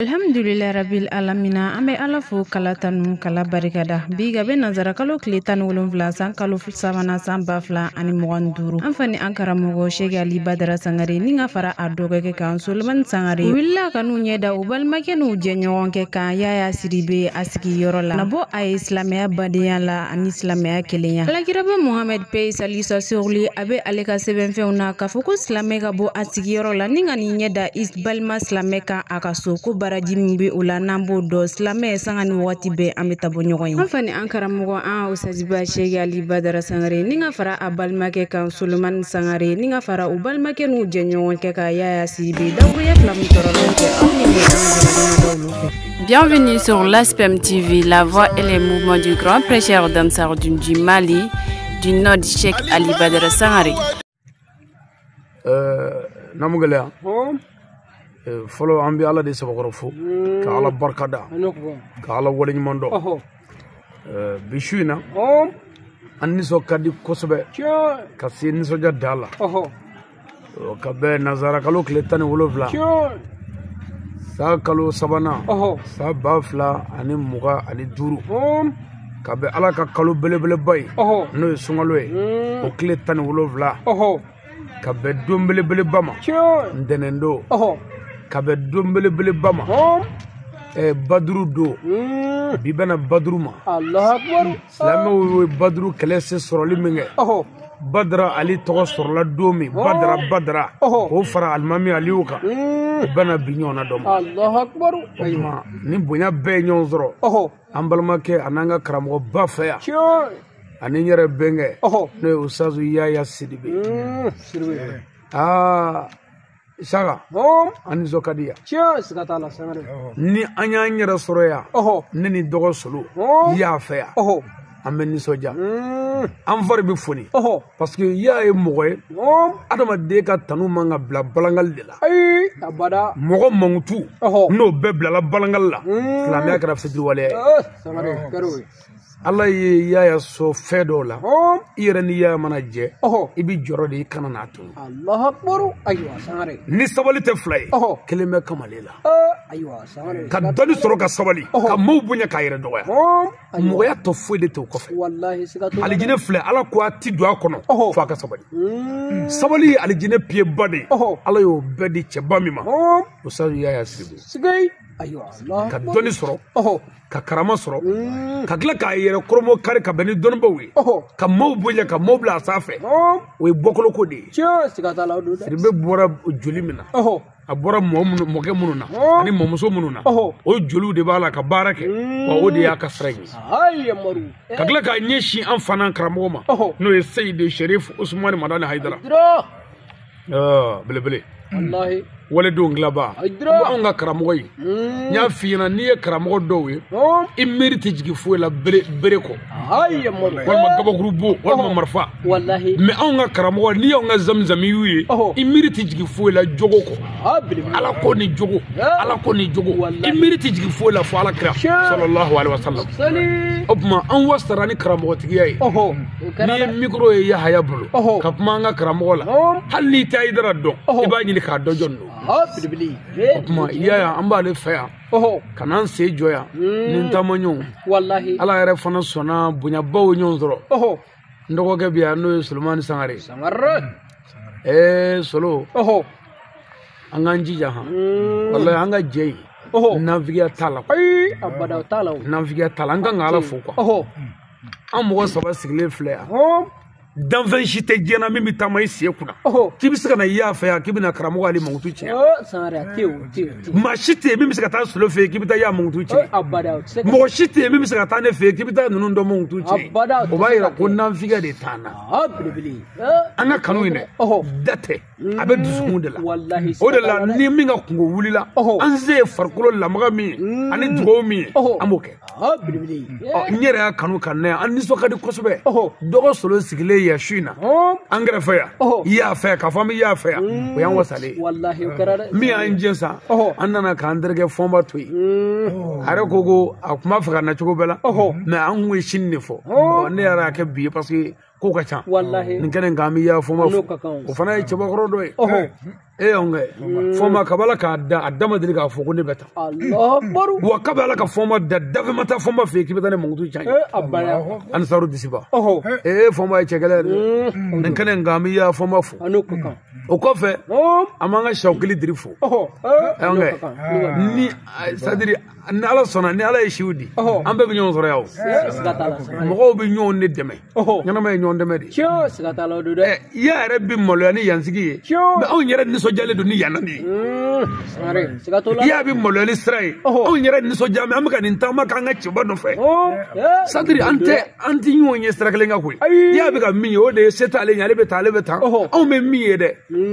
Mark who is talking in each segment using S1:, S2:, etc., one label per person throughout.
S1: Alhamdulila rabil alamina an bɛ ala fo k'ala tanu k'ala barika da bi ka bɛn nanzara kalo tile tan ni wolonwula san kalo sabanan san ba fila ani mugan duuru an fa ni an karamɔgɔ sɛki ali badara sangare ni ka fara a dɔgɔkɛ kan solimani sangare wulila ka n'u ɲɛ da u balimakɛ n'u jɛɲɔgɔnkɛ kan yaya sidibe a sigiyɔrɔ la na bɔ a ye silamɛya badenya la ani silamɛya kelenya la kiraba muhamadu paix et salut soit sur lui a bɛ ale ka sɛbɛnfɛnw na k'a fɔ ko silamɛ ka bɔ a sigiyɔrɔ la ni ka n'i ɲɛ da i balima silamɛ kan a ka so ko baraji min bɛ o la n'an b'o dɔn silamɛ sanga ni waati bɛɛ an bɛ taa bɔ ɲɔgɔn ye an fa ni an karamɔgɔ an usaziba sɛki ali badara sangare ni ka fara a balimakɛ kan solomani sangare ni ka fara u balimakɛ n'u jɛɲɔgɔnkɛ kan yaya sidibe dawuya fila min sɔrɔ n'o tɛ aw ni ne
S2: an jɛɲɔgɔn olu fɛ Bienvenue sur l'ASPEM TV, la voix et les mouvements du grand prêcheur d'Ansar Dine du Mali, du Nord Cheikh Ali Badara Sangare.
S3: namu gɛlɛya fɔlɔ an bɛ ala de sabakɔrɔ fo ka ala barika da ka ala waleɲuman dɔn bi su in na an nisɔn ka di kosɛbɛ ka se nisɔndiya dan la ka bɛn nanzarakalo tile tan ni wolonwula san kalo sabanan san ba fila ani mugan ani duuru ka bɛn ala ka kalo belebeleba ye n'o ye sunkalo ye hmm. o tile tan ni wolonwula ka bɛn don belebeleba ma ntɛnɛndon ka bɛn don belebeleba ma eh, baduru don hmm. bi bɛnna baduru
S4: ma silamɛw
S3: ye baduru kɛlɛ se sɔrɔli min kɛ badara ali tɔgɔ sɔrɔla don min badara badara k'o fara alimami aliwu kan hmm. o bɛnna bi ɲɔgɔnna don ma nin bonya bɛɛ ye ɲɔgɔn sɔrɔ an balimakɛ ani an ka karamɔgɔba fɛ yan ani n yɛrɛ bɛnkɛ n'o ye usazu yaya sidibe aa saka an nisɔn ka di
S4: yan ni an y'an
S3: yɛrɛ sɔrɔ yan ne ni dɔgɔ solo ya fɛ yan an bɛ nisɔndiya an fari bɛ foni parce que ya ye mɔgɔ ye adamaden ka tanu man ka bila balangali de la abada
S4: mɔgɔ mankutu
S3: n'o bɛɛ bilala balangali la silamɛya kɛra fitiriwaleya ye
S4: ala
S3: ye yaya sɔn fɛn dɔ la i yɛrɛ ni yaya mana jɛ i bɛ jɔrɔ de i kana n'a
S4: to ni sabali tɛ fila
S3: ye kelen bɛ kamalen la
S4: ka dɔnni sɔrɔ ka
S3: sabali ka maaw bonya k'a yɛrɛ dɔgɔya mɔgɔya tɔ foyi de t'o kɔfɛ
S4: alijinɛ filɛ ala ko
S3: a ti don a kɔnɔ fo a ka sabali hmm. sabali ye alijinɛ piyeba de ye ala y'o bɛɛ di cɛba min ma usazu yaya sidibe
S4: ka dɔnni
S3: sɔrɔ ka karama sɔrɔ hmm. ka tila k'a yɛrɛ kɔrɔmɔ kari ka bɛn ni dɔnnibaw ye ka maaw bonya ka maaw bila a sanfɛ o ye bɔkolo ko de ye sidibe
S4: bɔra
S3: joli min na a bɔra mɔkɛ minnu na Ɔɔ. ani mɔmuso minnu na Ɔhɔ. o joliw de b'a la ka baara kɛ Mm. wa o de y'a ka sira ye Ayi yamaru.
S4: ka tila k'a ɲɛsin
S3: an fana karamɔgɔ ma Ɔhɔ. n'o ye seyidi sherif usumani madani hayidara Dira. Ɔɔ, belebele
S4: Wallahi. waledenw
S3: dilanba Hayidara. bawo an ka karamɔgɔ ye n Mm. y'a f'i ɲɛna n'i ye karamɔgɔ dɔw ye Ɔɔ. i miiri tɛ jigin foyi la bere kɔ ayi yamaru
S4: walima gabakuru
S3: bon walima marifa walahi mɛ anw
S4: ka
S3: karamɔgɔ n'i y'anw ka zamizamiyu ye i miiri tɛ jigin foyi la jogo kɔ ala ko ni jogo ala ko ni jogo i miiri tɛ jigin foyi la fo ala kira sɔlɔlahu alayhi wa salam o tuma an wasara ni karamɔgɔtigiya ye n'i ye mikoro ye yahaya bolo ka kuma an ka karamɔgɔ la hali n'i tɛ hayidara dɔn i b'a ɲini k'a dɔn jɔni don o tuma yaya an b'ale fɛ yan ɔhɔ ka n'an sen jɔ yan ni n taamaɲɔgɔn walahi ala
S4: yɛrɛ fana
S3: sɔnna bonyabaw ye ɲɔgɔn sɔrɔ ɔhɔ n dɔgɔkɛ bɛ yan n'o ye solomani sangare sangare ɛɛ solo ɔhɔ an k'an jija han walahi an ka jɛ yen ɔhɔ nafigiya t'a la ayi abada o
S4: t'a la o nafigiya t'a la an kan ka
S3: ala fo kuwa ɔhɔ an mɔgɔ saba sigilen filɛ yan ɔhɔ danfɛn si tɛ diɲɛ na min bɛ taama i sen kunna k'i bɛ se ka na yaya fɛ yan k'i bɛna karamɔgɔ ale mankutu
S4: cɛn maa si tɛ yen
S3: min bɛ se ka taa solo fɛ yen k'i bɛ taa yaya mankutu cɛn mɔgɔ
S4: si tɛ yen
S3: min bɛ se ka taa ne fɛ yen k'i bɛ taa ninnu dɔ mankutu cɛn o b'a yira ko
S4: nanfigiya
S3: de t'an na an ka kanu in dɛ da tɛ a bɛ dusukun de la walahi o de la
S4: siga t'a la ni
S3: min ka kunko wulila Ɔhɔ. an se ye farikolo lamaga min ye Mm. ani dugawu min ye Ɔhɔ. an b'o kɛ. Ah, belebele Ɔ, n yɛrɛ y'a kanu ka na yan an nisɔn ka di kosɛbɛ Ɔhɔ. dɔgɔ solo sigilen yan su in na Hɔn. an kɛrɛfɛ yan Ɔhɔ. yaya fɛ yan k'a fɔ an bɛ yaya fɛ yan o y'an wasalen ye walahi o kɛra
S4: dɛ min y'an jɛ
S3: sa Ɔhɔ. an nana k'an terikɛ fɔnba to yen Mm. a yɛrɛ ko ko a tun b'a fɛ ka na cogo bɛɛ la Ɔhɔ. mɛ an kun ye sini de fɔ Ɔ, ne yɛrɛ y'a kɛ bi ye parce que ko ka ca walahi nin kɛnɛ in kan n bɛ ya fɔma fo o fana ye cɛbakɔrɔ dɔ ye e y'an kɛ fɔma kabi ala k'a da a da ma deli k'a fɔ ko ne bɛ taa wa
S4: kabi ala ka fɔma
S3: da danfɛn ma taa fɔma fɛ yen k'i bɛ taa ne mankutu cɛn yen
S4: ansaru
S3: disiba ee
S4: fɔma ye cɛgɛlɛn
S3: ye dɛ nin kɛnɛ in kan n bɛ ya fɔma fo o
S4: kɔfɛ
S3: an b'an ka siyawukili diri fo e y'an kɛ ni sadiri ni ala sɔnna ni ala ye si di an bɛɛ bɛ ɲɔgɔn sɔrɔ yan o mɔgɔw bɛ ɲɔgɔn de dɛmɛ ɲɛnamaya ye ɲɔgɔn dɛmɛ de
S4: ye yaya yɛrɛ bɛ maloya
S3: nin yansigi ye mɛ anw yɛrɛ nisɔndiyalen don ni yan de ye
S4: yaya bɛ maloya nin
S3: sira ye anw yɛrɛ nisɔndiya mɛ an bɛ ka nin taama k'an ka cɛba nɔfɛ sadiri an tɛ ɲɔgɔn ye sira kelen kan koyi yaya bɛ ka min ye o de ye se t'ale ɲɛ ale bɛ taa ale bɛ taa anw bɛ min ye dɛ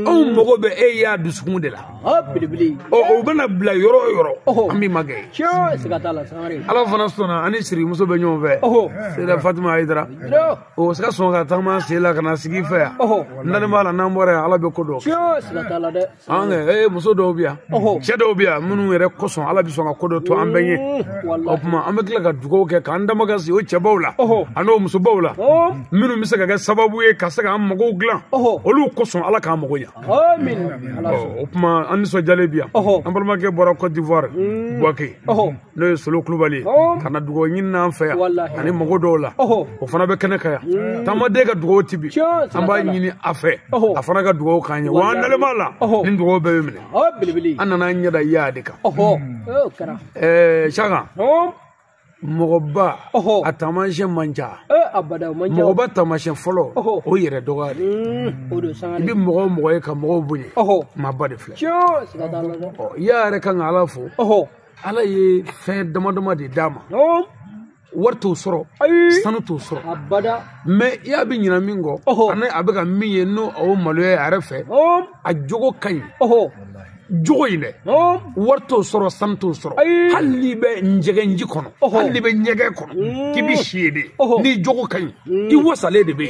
S3: anw mago bɛ yaya dusukun de la ɔ
S4: belebele ɔ o bɛna
S3: bila yɔrɔ o yɔrɔ Ɔhɔ. an b'i magɛn tiɲɛ siga
S4: t'a la sangare ala fana sɔnna an
S3: ni sirimuso bɛ ɲɔgɔn fɛ ɔhɔ sera fatima ayidara tiɲɛ o se ka sɔn ka taama sen la ka na sigi fɛ yan ɔhɔ n dalen b'a la n'an bɔra yan ala bɛ ko dɔn tiɲɛ siga t'a la
S4: dɛ an kɛ ee muso
S3: dɔw bɛ yan ɔhɔ cɛ dɔw bɛ yan minnu yɛrɛ kosɔn ala bɛ sɔn ka ko dɔ to an bɛɛ ɲɛ o wala tuma an bɛ tila ka dugawu kɛ k'an damakasi o cɛbaw la ɔhɔ ani o musobaw la ɔ minnu bɛ se ka kɛ sababu ye ka se k'an magow dilan ɔhɔ olu kosɔn ala k'an mago ɲa
S4: o
S3: tuma an nisɔndiyalen bi yan an balimakɛ bɔra cote d'ivoire mm. buwake n'o ye solo kulubali ye ka na dugawu ɲini n'an fɛ yan ani mago dɔw la o fana bɛ kɛnɛ kan yan mm. taamaden ka dugawu ti bin an b'a ɲini a fɛ a fana ka dugawu k'an ye wa an dalen b'a la nin dugawu bɛɛ bɛ minɛ an nana an
S4: ɲɛ da yaya
S3: de kan
S4: saka
S3: mɔgɔba a taamasiyɛn man
S4: ca mɔgɔba taamasiyɛn
S3: fɔlɔ o yɛrɛ dɔgɔya de i
S4: bɛ mɔgɔ o mɔgɔ ye ka
S3: mɔgɔw bonya maaba de filɛ
S4: yaya yɛrɛ kan
S3: ka ala fo ala ye fɛn dama dama de d'a ma wari t'o sɔrɔ sanu t'o sɔrɔ mɛ
S4: yaya bɛ
S3: ɲina min kɔ ani a bɛ ka min ye n'o o maloya a yɛrɛ fɛ a jogo ka ɲi jogo in dɛ wari t'o sɔrɔ sanu t'o sɔrɔ hali n'i bɛ ɲɛgɛnji kɔnɔ hali n'i bɛ ɲɛgɛn kɔnɔ mm. k'i bɛ si yen de n'i jogo ka ɲi mm. i wasalen de bɛ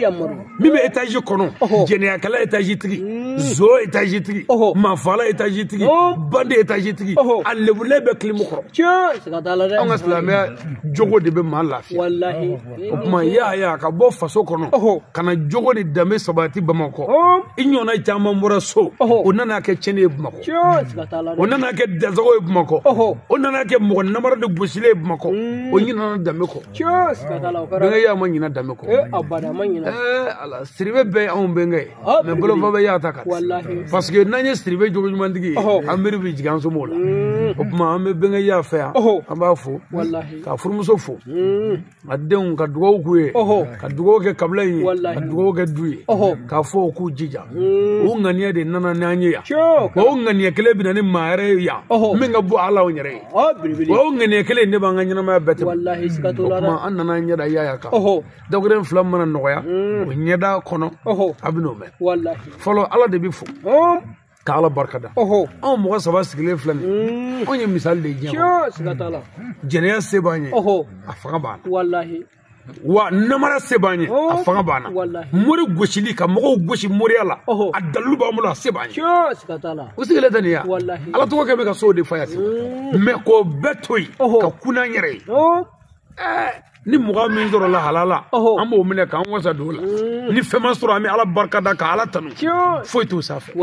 S3: yen min
S4: bɛ etazi
S3: kɔnɔ jɛnɛyakɛla etazi tigi mm. zon etazi tigi maafaala etazi tigi bandi etazi tigi a lebulen bɛ kilimu kɔrɔ anw
S4: ka silamɛya
S3: jogo de bɛ maa lafiya
S4: o tuma
S3: yaya ka bɔ faso kɔnɔ ka na jogo ni danbe sabati bamakɔ i ɲɔgɔnna caman bɔra so o nana kɛ cɛnni ye bamakɔ o nana kɛ dansagon ye bamakɔ o nana kɛ mɔgɔ namara de gosili ye bamakɔ o ɲinana danbe kɔ bɛnkɛ
S4: yaya ma ɲina
S3: danbe kɔ
S4: ala siribe
S3: bɛɛ ye anw bɛnkɛ ye Ah, mɛ bolofa bɛ yaya ta kan parce que
S4: n'an ye
S3: siribe jogo ɲumantigi ye an miiri bɛ jigin an somɔgɔw la mm. o tuma an bɛ bɛnkɛ yaya fɛ yan an b'a fo k'a furumuso
S4: fo
S3: mm. a denw ka dugawu k'u ye ka dugawu kɛ kabila in ye ka dugawu kɛ du ye k'a fɔ u k'u jija mm. o ŋaniya de nana n'an ye yan wa o ŋaniya kelen bɛ na ni maa yɛrɛ ye yan min ka bon ala anw yɛrɛ ye wa o ŋaniya kelen de b'an ka ɲɛnamaya bɛɛ tɛmɛ o tuma
S4: an nana an ɲɛ da
S3: yaya kan dagore in fila mana nɔgɔya o ɲɛda kɔnɔ a bɛ n'o mɛn fɔlɔ
S4: ala de bɛ
S3: fo ka ala barika da anw mɔgɔ saba sigilen filɛ nin anw ye misali de diɲɛ kɔnɔ
S4: jɛnɛya se b'an
S3: ye a fanga b'an na wa namara se b'an ye a fanga b'an na mori gosili ka mɔgɔw gosi moriya la a dalilu b'an bolo a se b'an ye u
S4: sigilen tɛ nin ye
S3: ala tɔgɔ kɛ bɛ ka
S4: sow de fa
S3: yan mɛ k'o bɛɛ to yen ka kun an yɛrɛ ye ni mugan min sɔrɔla halala an b'o minɛ k'an wasa don o la mm. ni fɛn ma sɔrɔ an bɛ ala barika da ka ala tanu foyi t'o sanfɛ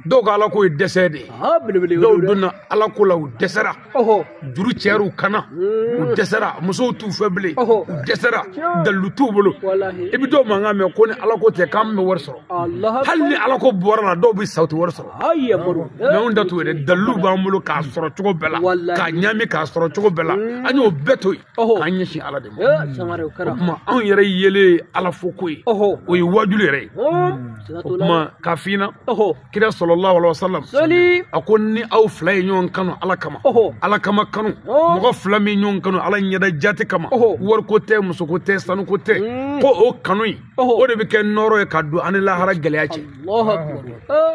S4: dɔw ka ala ko ye
S3: dɛsɛ de ye dɔw donna ala ko la u dɛsɛra juru cɛyara u kan na u mm. dɛsɛra musow t'u fɛ bilen u dɛsɛra dalilu t'u bolo i bɛ dɔw mankan mɛn ko ni ala ko tɛ k'an bɛ wari sɔrɔ hali ni ala ko bɔr'a la dɔw bɛ sa u tɛ wari sɔrɔ ayi
S4: amadu n'anw ta t'o ye
S3: dɛ dalilu b'an bolo k'a sɔrɔ cogo bɛɛ la k'a ɲami k'a sɔrɔ cogo bɛɛ la mm. an y'o bɛɛ to yen k'an ɲɛsin ala de ma o kuma
S4: anw yɛrɛ yelen
S3: ala fo ko ye o ye wajulu yɛrɛ ye o kuma ka fina kira salalahu alaihi wasallam a ko ni aw fila ye ɲɔgɔn kanu ala kama ala kama kanu mɔgɔ fila min ɲɔgɔn kanu ala ɲɛda jati kama wariko tɛ musoko tɛ sanuko tɛ mm. ko o kanu in o de bɛ kɛ nɔɔrɔ ye ka don an ni lahara gɛlɛya cɛ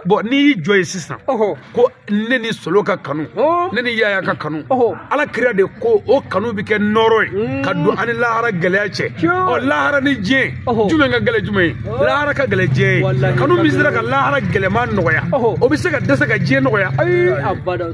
S4: bɔn n'i y'i jɔ
S3: yen sisan ko ne ni solo ka kanu ne ni yaya ka kanu ala kira de ko o kanu bɛ kɛ nɔɔrɔ ye mm. ka don an ni lahara gɛlɛya cɛ ɔ lahara ni diɲɛ jumɛn ka gɛlɛ jumɛn ye lahara ka gɛlɛ diɲɛ ye kanu min sera ka lahara gɛlɛman nɔgɔya o bɛ se ka dɛsɛ ka diɲɛ nɔgɔya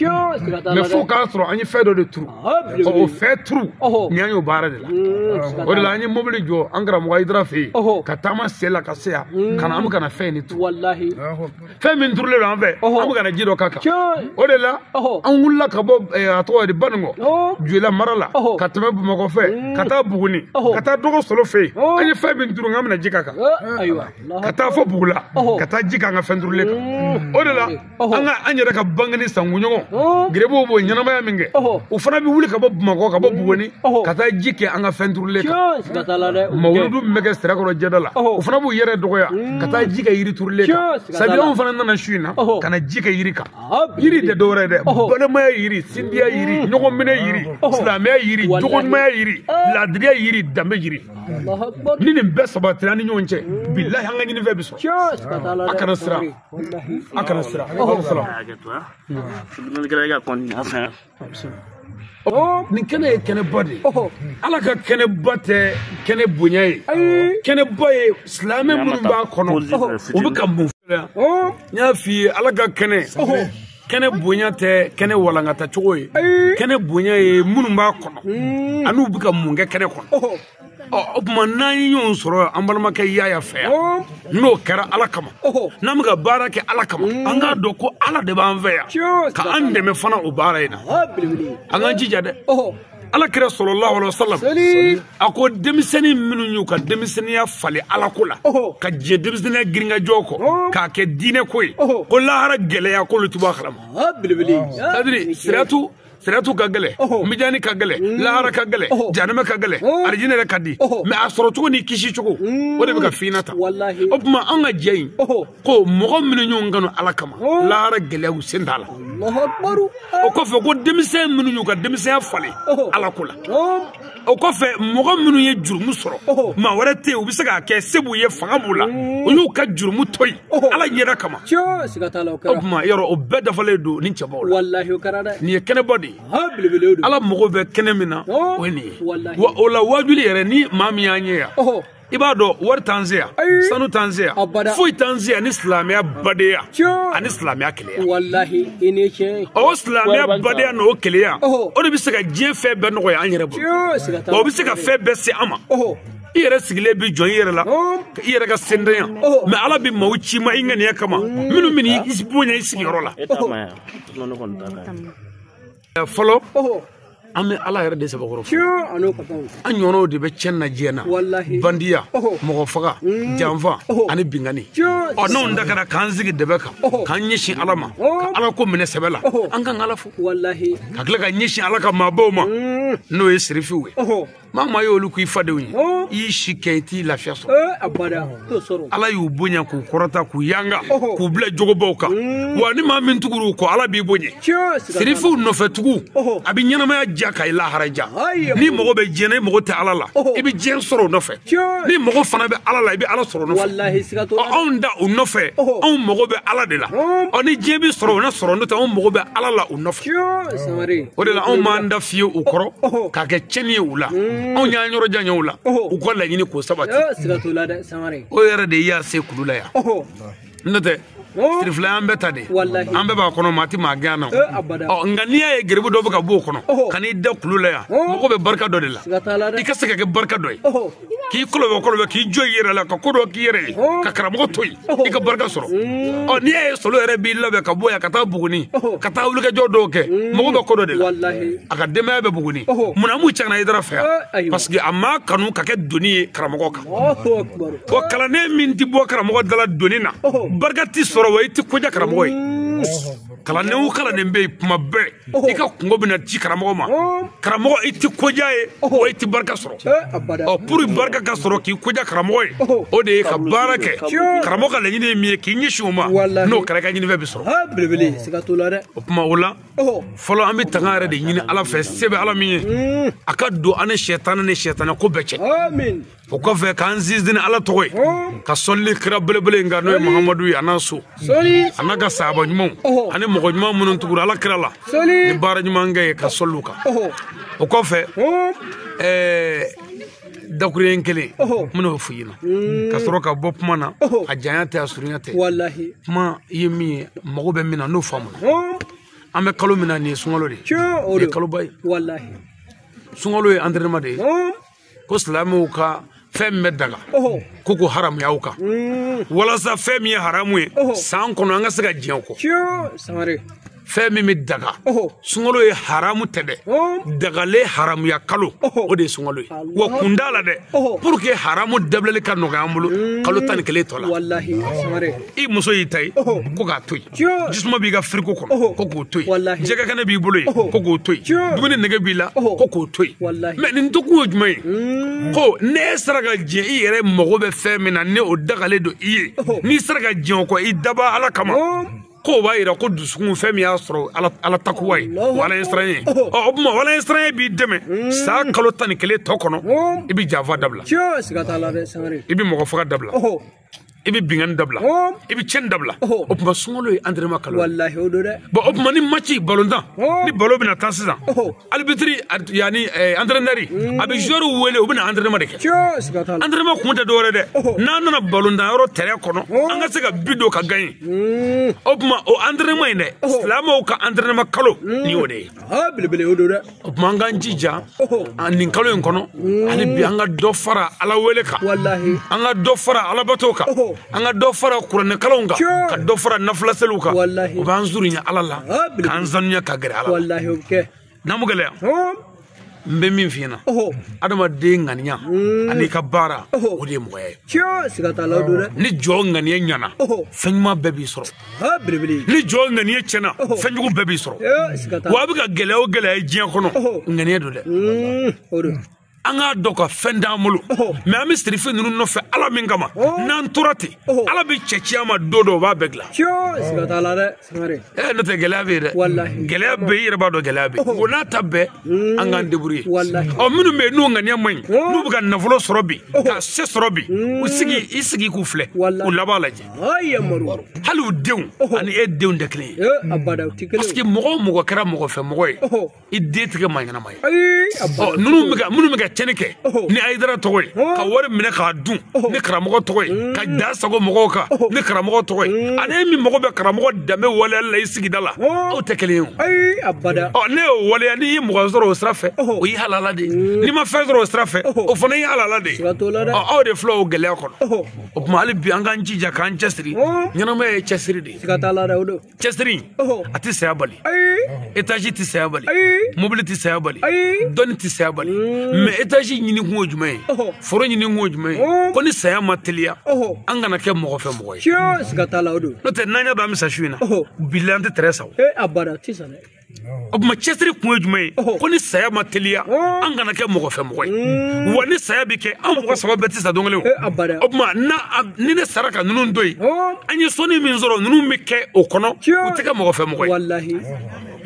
S3: mɛ fo k'a sɔrɔ an ye fɛn dɔ de turu o fɛn turunen an y'o baara de la o de la an ye mobili jɔ an karamɔgɔ hayidara fɛ yen ka taama sen la ka se yan ka na an bɛ ka na fɛn de turu fɛn min turulen don an fɛ an bɛ ka na ji dɔ k'a kan o de la an wulila ka bɔ a tɔgɔ di baninkɔ joyila mara la ka tɛmɛ bamakɔ fɛ ka taa buguni ka taa dɔgɔ solo fɛ yen an ye fɛn min turu an bɛna ji k'a kan ka taa fo bugula ka taa ji k'an ka fɛn turulen kan o de la an ka an yɛrɛ ka bangeni sankunɲɔgɔn gurupu b'o ɲɛnamaya min kɛ u fana bɛ wuli ka bɔ bamakɔ ka bɔ buguni ka taa ji kɛ an ka fɛn turulen kan mawuludu min bɛ kɛ sirakɔrɔ jɛda la u fana b'u yɛrɛ dɔgɔya ka taa ji kɛ yiri turulen kan sabu aw fana nana su in na ka na ji kɛ yiri kan yiri tɛ dɔwɛrɛ dɛ balimaya yiri sindiya yiri ɲɔgɔn minɛ yiri silamɛya yiri jogoɲumanya yiri laadiriya yiri danbe yiri ni nin bɛɛ sabatir'an ni ɲɔgɔn cɛ bilahi an ka ɲinifɛn bɛ sɔrɔ a kana siran a kana siran nin kɛnɛ ye kɛnɛba de ye ala ka kɛnɛba tɛ kɛnɛ bonya ye kɛnɛba ye silamɛ minnu b'a kɔnɔ u bɛ ka mun filɛ n y'a f'i ye ala ka kɛnɛ kɛnɛ bonya tɛ kɛnɛ walankata cogo ye kɛnɛ bonya ye minnu b'a kɔnɔ an'u bɛ ka mun kɛ kɛnɛ kɔnɔ ɔ o tuma n'an ye ɲɔgɔn sɔrɔ an balimakɛ yaya fɛ yan n'o kɛra ala kama n'an bɛ ka baara kɛ ala kama an k'a dɔn ko ala de b'an fɛ yan ka an dɛmɛ fana o baara in na an k'an jija dɛ ala kira salalahu alayhi wa salam a ko denmisɛnnin minnu y'u ka denmisɛnninya falen ala ko la ka diɲɛ denmisɛnninya girinkajɔ kɔ k'a kɛ diinɛ ko ye ko lahara gɛlɛya k'olu ti bɔ a kalama sadiri siratu siratu ka gɛlɛ mijani ka gɛlɛ mm. lahara ka gɛlɛ janama ka gɛlɛ arijinɛ yɛrɛ ka di mais a sɔrɔ cogo ni kisi cogo mm. o de bɛ ka fina ta o tuma an ka jɛ in ko mɔgɔ minnu ɲɔgɔn kanu ala kama lahara gɛlɛyaw sen t'a la o kɔfɛ ko denmisɛn minnu y'u ka denmisɛnya falen ala ko la o kɔfɛ mɔgɔ minnu ye jurumu sɔrɔ maa wɛrɛ tɛ yen u bɛ se k'a kɛ se b'u ye fanga b'u la u y'u ka jurumu to yen ala ɲɛda kama o tuma yɔrɔ o bɛɛ dafalen don nin cɛbaw la nin ye kɛnɛbɔ de ye ala mago bɛ kɛnɛ min na o ye nin ye wa o la wajuli yɛrɛ ni maa min y'an ye yan i b'a dɔn wari t'an se yan sanu t'an se yan foyi t'an se yan ni silamɛya badenya ani silamɛya kelenya o silamɛya badenya n'o kelenya o de bɛ se ka diɲɛ fɛn bɛɛ nɔgɔya an yɛrɛ bolo o bɛ se ka fɛn bɛɛ se an ma i yɛrɛ sigilen bɛ jɔ i yɛrɛ la i yɛrɛ ka sendenya mais ala bɛ maaw ci i ma i ŋaniya kama minnu bɛ n'i bonya i sigiyɔrɔ la fɔlɔ an bɛ ala yɛrɛ de sɛbɛkɔrɔ fo an ɲɔgɔnw de bɛ cɛn na diɲɛ na bandiya mɔgɔ faga mm. janfa ani binkanni ɔ n'anw ta kɛra k'an sigi dɛbɛ kan k'an ɲɛsin ala ma ka ala ko minɛ sɛbɛ la an kan ka ala fo ka tila ka ɲɛsin ala ka maabaw ma mm. n'o ye sirifiw ye maa maa y'olu k'i fadenw ye i y'i si kɛ i ti lafiya sɔrɔ ala y'u bonya k'u kɔrɔta k'u yanga k'u bila jogobaw kan mm. wa ni maa min tugur'u kɔ ala b'i bonya sirifiw nɔfɛtugu a b'i ɲɛnamaya diya ka i lahara diya n'i mago bɛ diɲɛ na i mago tɛ ala la i bɛ diɲɛ sɔrɔ o nɔfɛ n'i mago fana bɛ ala la i bɛ ala sɔrɔ o nɔfɛ anw da o nɔfɛ anw mago bɛ ala de la ɔ ni diɲɛ bɛ sɔrɔ o na sɔrɔ n'o tɛ anw mago bɛ ala la nɔfɛ o de la anw m'an da fiye u kɔrɔ oh, oh. k'a kɛ cɛni ye u la mm. anw y'an yɔrɔ janya u la oh, u ka laɲini k'o sabati o yɛrɛ de y'an se kulu la yan n'o tɛ sirifila y'an bɛɛ ta de an bɛɛ b'a kɔnɔ maa ti maa gɛn yan ɔ nka n'i y'a ye garibu dɔ bɛ ka b'o kɔnɔ ka n'i da kulu la yan mɔgɔ bɛ barika dɔ de la i ka se ka kɛ barika dɔ ye k'i kolobɛ kolobɛ k'i jɔ i yɛrɛ la ka ko dɔ k'i yɛrɛ ye ka karamɔgɔ to yen i ka barika sɔrɔ ɔ n'i y'a ye solo yɛrɛ b'i labɛn ka bɔ yan ka taa buguni ka taa wulikajɔ dɔw kɛ mɔgɔ bɛ ko dɔ de la a ka denbaya bɛ buguni mun na m'u cɛ ka na ayidara fɛ yan parce que a ma kanu ka kɛ doni ye karamɔgɔ kan wa kalanden min tɛ bɔ karamɔgɔ dala doni na barika tɛ sɔrɔ wa i tɛ ko diya karamɔgɔ ye kalanden o kalanden bɛ yen kuma bɛɛ i ka kunko bɛna ci karamɔgɔ ma karamɔgɔ i tɛ ko diya a ye wa i tɛ barika sɔrɔ ɔ pour barika ka sɔrɔ k'i ko diya karamɔgɔ ye o de ye ka baara kɛ karamɔgɔ ka laɲini ye min ye k'i ɲɛsin o ma n'o kɛra i ka ɲinifɛn bɛ
S4: sɔrɔ o tuma o
S3: la fɔlɔ an bɛ tanga yɛrɛ de ɲini ala fɛ se bɛ ala min ye a ka don an ni sitanɛ ni sitanɛ ko bɛɛ cɛ o
S4: kɔfɛ
S3: k'an sinsin ni ala tɔgɔ ye ka sɔlili kira belebele in kan n'o ye mahamadu ye a n'a so a n'a ka sahaba ɲumanw ani mɔgɔ ɲuman minnu tugura ala kira la ni baara ɲuman kɛ ye ka sɔli u kan o kɔfɛ ɛɛ dakuruɲɛ kelen n bɛn'o f'i ɲɛna mm. ka sɔrɔ ka bɔ kuma na a janya tɛ a surunya tɛ kuma i ye min ye mago bɛ min na n'o faamuna an bɛ kalo min na nin ye sunkalo de ye nin ye kaloba ye sunkalo ye entraînement de ye ko silamɛw ka fɛn min bɛ daga ko k'o haramuy'aw kan mm. walasa fɛn min ye haramu ye san kɔnɔ an ka se ka diɲɛ o kɔ fɛn min bɛ daga sunkalo ye haramu tɛ dɛ dagalen haramuya kalo o de ye sunkalo ye wa kun t'a la dɛ pour que haramu dabilali ka nɔgɔya an bolo mm. kalo tan ni kelen tɔ la i muso y'i ta ye ko k'a to yen jisuma b'i ka frigo kɔnɔ ko k'o to yen jɛgɛ kɛnɛ b'i bolo yen ko k'o to yen dumuni nege b'i la ko k'o to yen mɛ nin to kun ye jumɛn ye hmm. ko n'i sera ka diɲɛ i yɛrɛ mago bɛ fɛn min na ni o dagalen don i ye n'i sera ka diɲɛ o kɔ i daba ala kama k'o b'a yira ko dusukun fɛn min y'a sɔrɔ ala takuwa ye wa ala ɲɛsiran ye ɔ o tuma ala ɲɛsiranɲɛ b'i dɛmɛ hmm. san kalo tan ni kelen tɔ kɔnɔ i bɛ janfa dabila i bɛ mɔgɔ faga dabila i bɛ binkanni dabila i bɛ cɛnni dabila o tuma sunkalo ye antrɛnema kalo walahi o don dɛ bɔn o tuma ni maci balontan ni balon bɛna tan sisan alibitiri yanni antrɛnɛri a bɛ zuwɛriw wele u bɛna antrɛnema de kɛ antrɛnema kun tɛ dɔwɛrɛ dɛ n'an nana balontan yɔrɔ tɛrɛn kɔnɔ an ka se ka bi don ka gaɲe o tuma o antrɛnema in dɛ silamɛw ka antrɛnema kalo ni o de ye belebele o don dɛ o tuma an k'an jija nin kalo in kɔnɔ hali bi an ka dɔ fara ala wele kan an ka dɔ fara alabato kan an ka dɔ fara kuranɛkalanw kan ka dɔ fara nafilaseliw kan o b'an surunya ala la k'an sanuya ka gɛrɛ ala la n'a ma gɛlɛya n bɛ min f'i ɲɛna adamaden ŋaniya mm. an'i ka baara o de ye mɔgɔya ye ni jɔn ŋaniya ɲana fɛn ɲuman bɛɛ b'i sɔrɔ ni jɔn ŋaniya tiɲɛna fɛnjugu bɛɛ b'i sɔrɔ wa a bɛ ka gɛlɛya o gɛlɛya ye diɲɛ kɔnɔ ŋaniya don dɛ hmm, an k'a dɔn ko fɛn t'an bolo mɛ an bɛ sirifi ninnu nɔfɛ ala min kama n'an tora ten ala bɛ cɛ ci an ma don dɔ o b'a bɛɛ dilan n'o tɛ gɛlɛya bɛ yen dɛ gɛlɛya bɛ i yɛrɛ b'a dɔn gɛlɛya bɛ yen o n'a ta bɛɛ an k'an débrouiller ɔ minnu bɛ yen n'u ŋaniya man ɲi n'u bɛ ka nafolo sɔrɔ bi ka se sɔrɔ bi u sigi i sigi k'u filɛ u laban lajɛ hali u denw ani e denw tɛ kelen ye parce que mɔgɔ o mɔgɔ kɛra mɔgɔ fɛ mɔgɔ ye i den tɛ kɛ maa ɲɛnama ye minnu bɛ ka minnu bɛ ka cɛnni kɛ ni ayidara tɔgɔ ye ka wari minɛ k'a dun ni karamɔgɔ tɔgɔ ye ka da sago mɔgɔw kan ni karamɔgɔ tɔgɔ ye ani min mago bɛ karamɔgɔ danbe waleyali la i sigida la aw tɛ kelen ye o n'e y'o waleya n'i ye mɔgɔ sɔrɔ o sira fɛ o y'i halala de ye n'i ma fɛn sɔrɔ o sira fɛ o fana y'i halala de ye aw de filɛ o gɛlɛya kɔnɔ o tuma hali bi an k'an jija k'an cɛsiri ɲɛnamaya ye cɛsiri de ye siga t'a la dɛ o don cɛsiri a tɛ saya bali étage tɛ saya bali mobili tɛ saya bali dɔnni tɛ saya bali mais étage ɲini kun ye jumɛn ye foro ɲini kun ye jumɛn ye ko ni saya ma teliya an kana kɛ mɔgɔ fɛ mɔgɔ ye siga t'a la o don n'o tɛ n'an y'a dɔn an bɛ sa su in na bilahi an tɛ tɛrɛn san o abada tɛ san dɛ o tuma cɛsiri kun ye jumɛn ye ko ni saya ma teliya an kana kɛ mɔgɔ fɛ mɔgɔ ye wa ni saya bɛ kɛ an mɔgɔ saba bɛɛ tɛ sa don kelen o tuma ni ne sara ka ninnu to yen an ye sɔnni min sɔrɔ ninnu bɛ kɛ o kɔnɔ u tɛ kɛ mɔgɔ fɛ mɔgɔ ye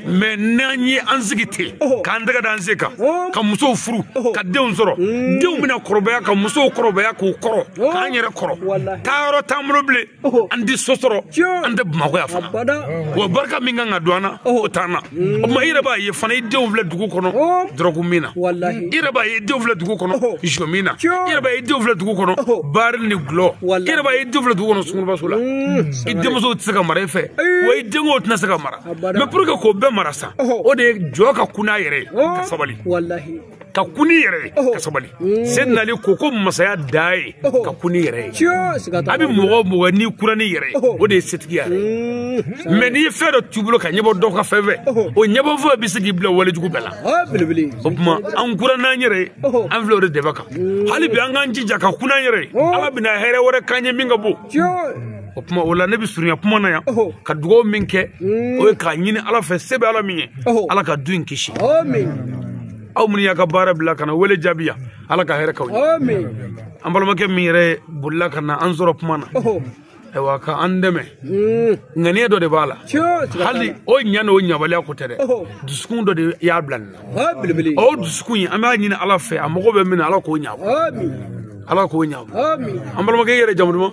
S3: mais n'an ye an sigi ten k'an tɛgɛ da an sen kan ka musow furu ka denw sɔrɔ denw bɛna kɔrɔbaya ka musow kɔrɔbaya k'u kɔrɔ k'an yɛrɛ kɔrɔ taa yɔrɔ t'an bolo bilen an tɛ so sɔrɔ an tɛ bamakɔ yan fana wa barika min kan ka don an na o t'an na o tuma i yɛrɛ b'a ye fana i denw filɛ dugu kɔnɔ dɔrɔgu min na i yɛrɛ b'a ye i denw filɛ dugu kɔnɔ zɔ min na i yɛrɛ b'a ye i denw filɛ dugu kɔnɔ baari ni gulɔ i yɛrɛ b'a ye i denw filɛ dugu kɔnɔ sunkurubaso la i denmuso tɛ se ka mara i fɛ wa i denkɛ tɛna se ka mara mais pour que k'o bɛɛ mara sa o de ye jɔn ka kun n'a yɛrɛ ye ka sabali ka kun n'i yɛrɛ ye ka sabali seydina ali ko ko masaya dan ye ka kun n'i yɛrɛ ye a bɛ mɔgɔ mɔgɔ n'i kura n'i yɛrɛ ye o de ye setigiya yɛrɛ ye mais n'i ye fɛn dɔ t'u bolo ka ɲɛbɔ dɔ ka fɛn fɛ o ɲɛbɔ fɛn bɛ se k'i bila wale jugu bɛɛ la o tuma an kura n'an yɛrɛ ye an filɛ o de dɛbɛn kan hali bi an k'an jija ka kun n'an yɛrɛ ye ala bɛna hɛrɛ wɛrɛ k'an ye min ka bon o tuma o la ne bɛ surunya kuma na yan ka dugawu min kɛ o ye k'a ɲini ala fɛ se bɛ ala min ye ala ka du in kisi
S4: aw minnu
S3: y'a ka baara bila ka na wele jaabi yan ala ka hɛrɛ k'aw ye an
S4: balimakɛ min
S3: yɛrɛ bolila ka na an sɔrɔ kuma na ayiwa ka an dɛmɛ hmm. ŋaniya dɔ de b'a la hali o ɲa n'o ɲabaliya ko tɛ dɛ dusukun dɔ de y'a bila nin na o dusukun in an b'a ɲini ala fɛ a mago bɛ min na ala k'o ɲabɔ ala k'o ɲabɔ an balimakɛ yɛrɛ jamu duman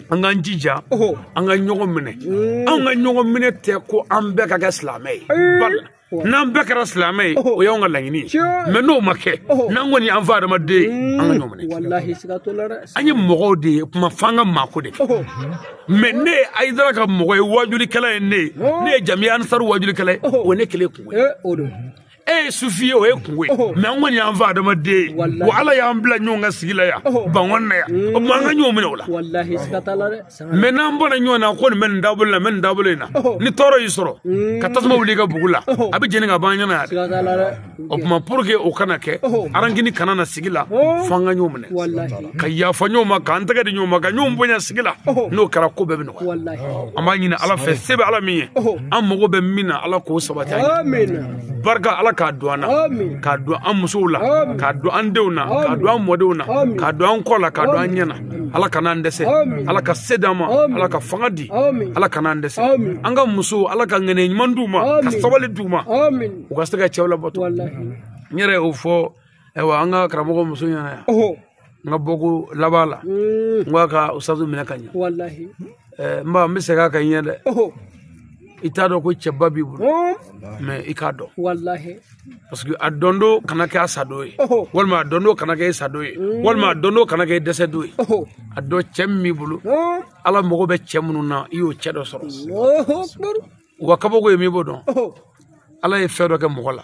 S3: an k'an jija an ka ɲɔgɔn minɛ mm. an ka ɲɔgɔn minɛ tɛ ko an bɛɛ ka kɛ silamɛ ye n'an bɛɛ kɛra silamɛ ye o y'anw ka laɲini ye mais n'o ma kɛ n'an kɔni y'an fa adama den mm. an ka ɲɔgɔn minɛ an ye mɔgɔw de ye kuma f'an ka maako de kɛ mais ne ye ayidara ka mɔgɔ ye wajulikɛla ye ne ye ne ye jamiya ansari wajulikɛla ye o ye ne kelen kunko ye eh, e ye sufi ye o ye kunko ye mais an kɔni y'an fa adama den ye wa ala y'an bila ɲɔgɔn kan sigi la yan bangon na yan o tuma an ka ɲɔgɔn minɛ o la mais n'an bɔra ɲɔgɔn na ko nin bɛ nin dabolo la n bɛ nin dabolo in na ni tɔɔrɔ y'i sɔrɔ ka tasuma wuli i ka bugu la a bɛ jeni ka ban ɲɛna yan dɛ o tuma pour que o kana kɛ rancune kana na sigi la fo an ka ɲɔgɔn minɛ ka yafa ɲɔgɔn ma k'an tɛgɛ di ɲɔgɔn ma ka ɲɔgɔn bonya sigi la n'o kɛra ko bɛɛ bɛ nɔgɔya an b'a ɲini ala fɛ se bɛ ala min ye an mago bɛ min na ala k'o sabati an ye barika ala k'a don an na k'a don an musow la k'a don an denw na k'a don an mɔdenw na k'a don an kɔ la k'a don an ɲɛ na ala kana an dɛsɛ ala ka se d'an ma ala ka fanga di ala kana an dɛsɛ an ka musow ala ka ŋɛnɛ ɲuman d'u ma ka sabali d'u ma u ka se ka cɛw labato n yɛrɛ y'o fɔ ayiwa an ka karamɔgɔ muso ɲɛna yan n ka bɔko laban la n ko a ka usadu minɛ ka ɲɛ n ba n bɛ segin a kan ɲɛ dɛ i t'a dɔn ko cɛba b'i bolo mais i k'a dɔn parce que a dɔn don kana kɛ a sadon ye walima a dɔn don kana kɛ i sadon ye walima a dɔn don kana kɛ i dɛsɛdon ye a dɔn cɛ min b'i bolo ala mago bɛ cɛ minnu na i y'o cɛ dɔ sɔrɔ wa kabako ye min b'o dɔn ala ye fɛn dɔ kɛ mɔgɔ la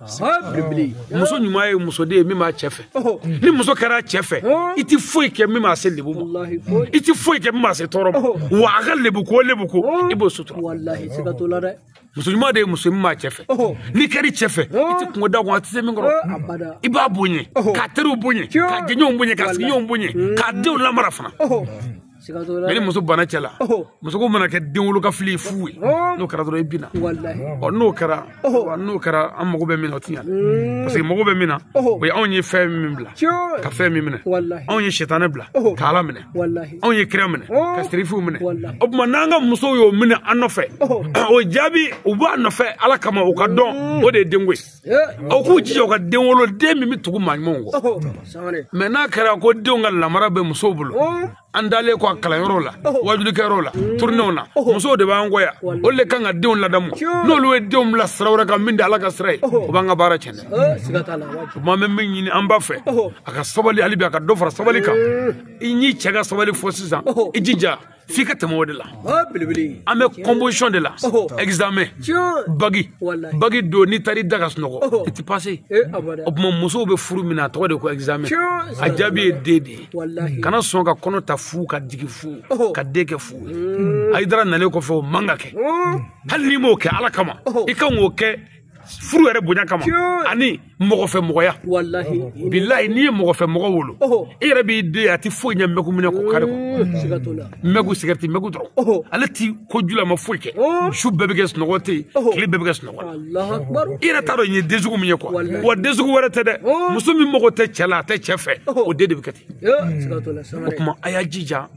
S3: muso ɲuman ye muso de ye min b'a cɛ fɛ ni muso kɛr'a cɛ fɛ i tɛ foyi kɛ min b'a se lebu ma i tɛ foyi kɛ min b'a se tɔɔrɔ ma wa a ka lebu ko lebu ko i b'o sutura muso ɲuman de ye muso min b'a cɛ fɛ n'i kɛr'i cɛ fɛ i tɛ kunko d'a kun a tɛ se min kɔrɔ i b'a bonya k'a teriw bonya k'a jɛɲɔgɔnw bonya k'a sigiɲɔgɔnw bonya k'a denw lamara fana ni muso banna cɛ la muso ko mana kɛ den wolo ka fili fu ye n'o kɛra dɔrɔn i binna ɔ n'o kɛra n'o kɛra an mago bɛ min na o ti ɲa mm. parce que mago bɛ min na o ye anw ye fɛn min bila ka fɛn min minɛ anw ye sitanɛ bila ka ala minɛ anw ye kira minɛ ka sirifiw minɛ o tuma n'an ka musow y'o minɛ an nɔfɛ o jaabi u b'an nɔfɛ ala kama u k'a dɔn mm. o de ye denko ye aw k'u jija u ka den wolo den min bɛ tugu maa ɲumanw kɔ mais n'a kɛra ko denw ka lamara bɛ musow bolo an taalen kɔ a kalanyɔrɔw la wajulikɛyɔrɔw la tournéew na musow de b'an kɔ yan olu de kan ka denw ladamu n'olu ye denw bila sira wɛrɛ kan min tɛ ala ka sira ye o b'an ka baara tiɲɛ dɛ tuma n bɛ min ɲini an ba fɛ a ka sabali hali bi a ka dɔ fara sabali kan i n'i cɛ ka sabali fo sisan i jija f'i ka tɛmɛ o de la an bɛ composition de la examen bagi bagi don n'i taara i da ka sunɔgɔ i tɛ passer o tuma musow bɛ furu min na a tɔgɔ de ko examen a jaabi ye den de ye kana sɔn ka kɔnɔ ta fu ka jigin fu ka den kɛ fu ye ayidara nalen kɔfɛ o man ka kɛ hali n'i m'o kɛ ala kama i kan k'o kɛ furu yɛrɛ bonya kama ani mɔgɔ fɛ mɔgɔya
S4: bilayi n'i ye mɔgɔ
S3: fɛ mɔgɔ wolo i yɛrɛ b'i den a tɛ foyi ɲɛ mɛku minɛ ko kari kɔ mɛku sigarɛti mɛku dɔrɔn ale ti ko jula ma foyi kɛ su bɛɛ bɛ kɛ sunɔgɔ tɛ yen tile bɛɛ bɛ kɛ sunɔgɔ i yɛrɛ t'a dɔn nin ye den sugu min ye kuwa wa den sugu wɛrɛ tɛ dɛ muso min mago tɛ cɛ la a tɛ cɛ fɛ o den de bɛ kɛ ten o tuma a y'a jija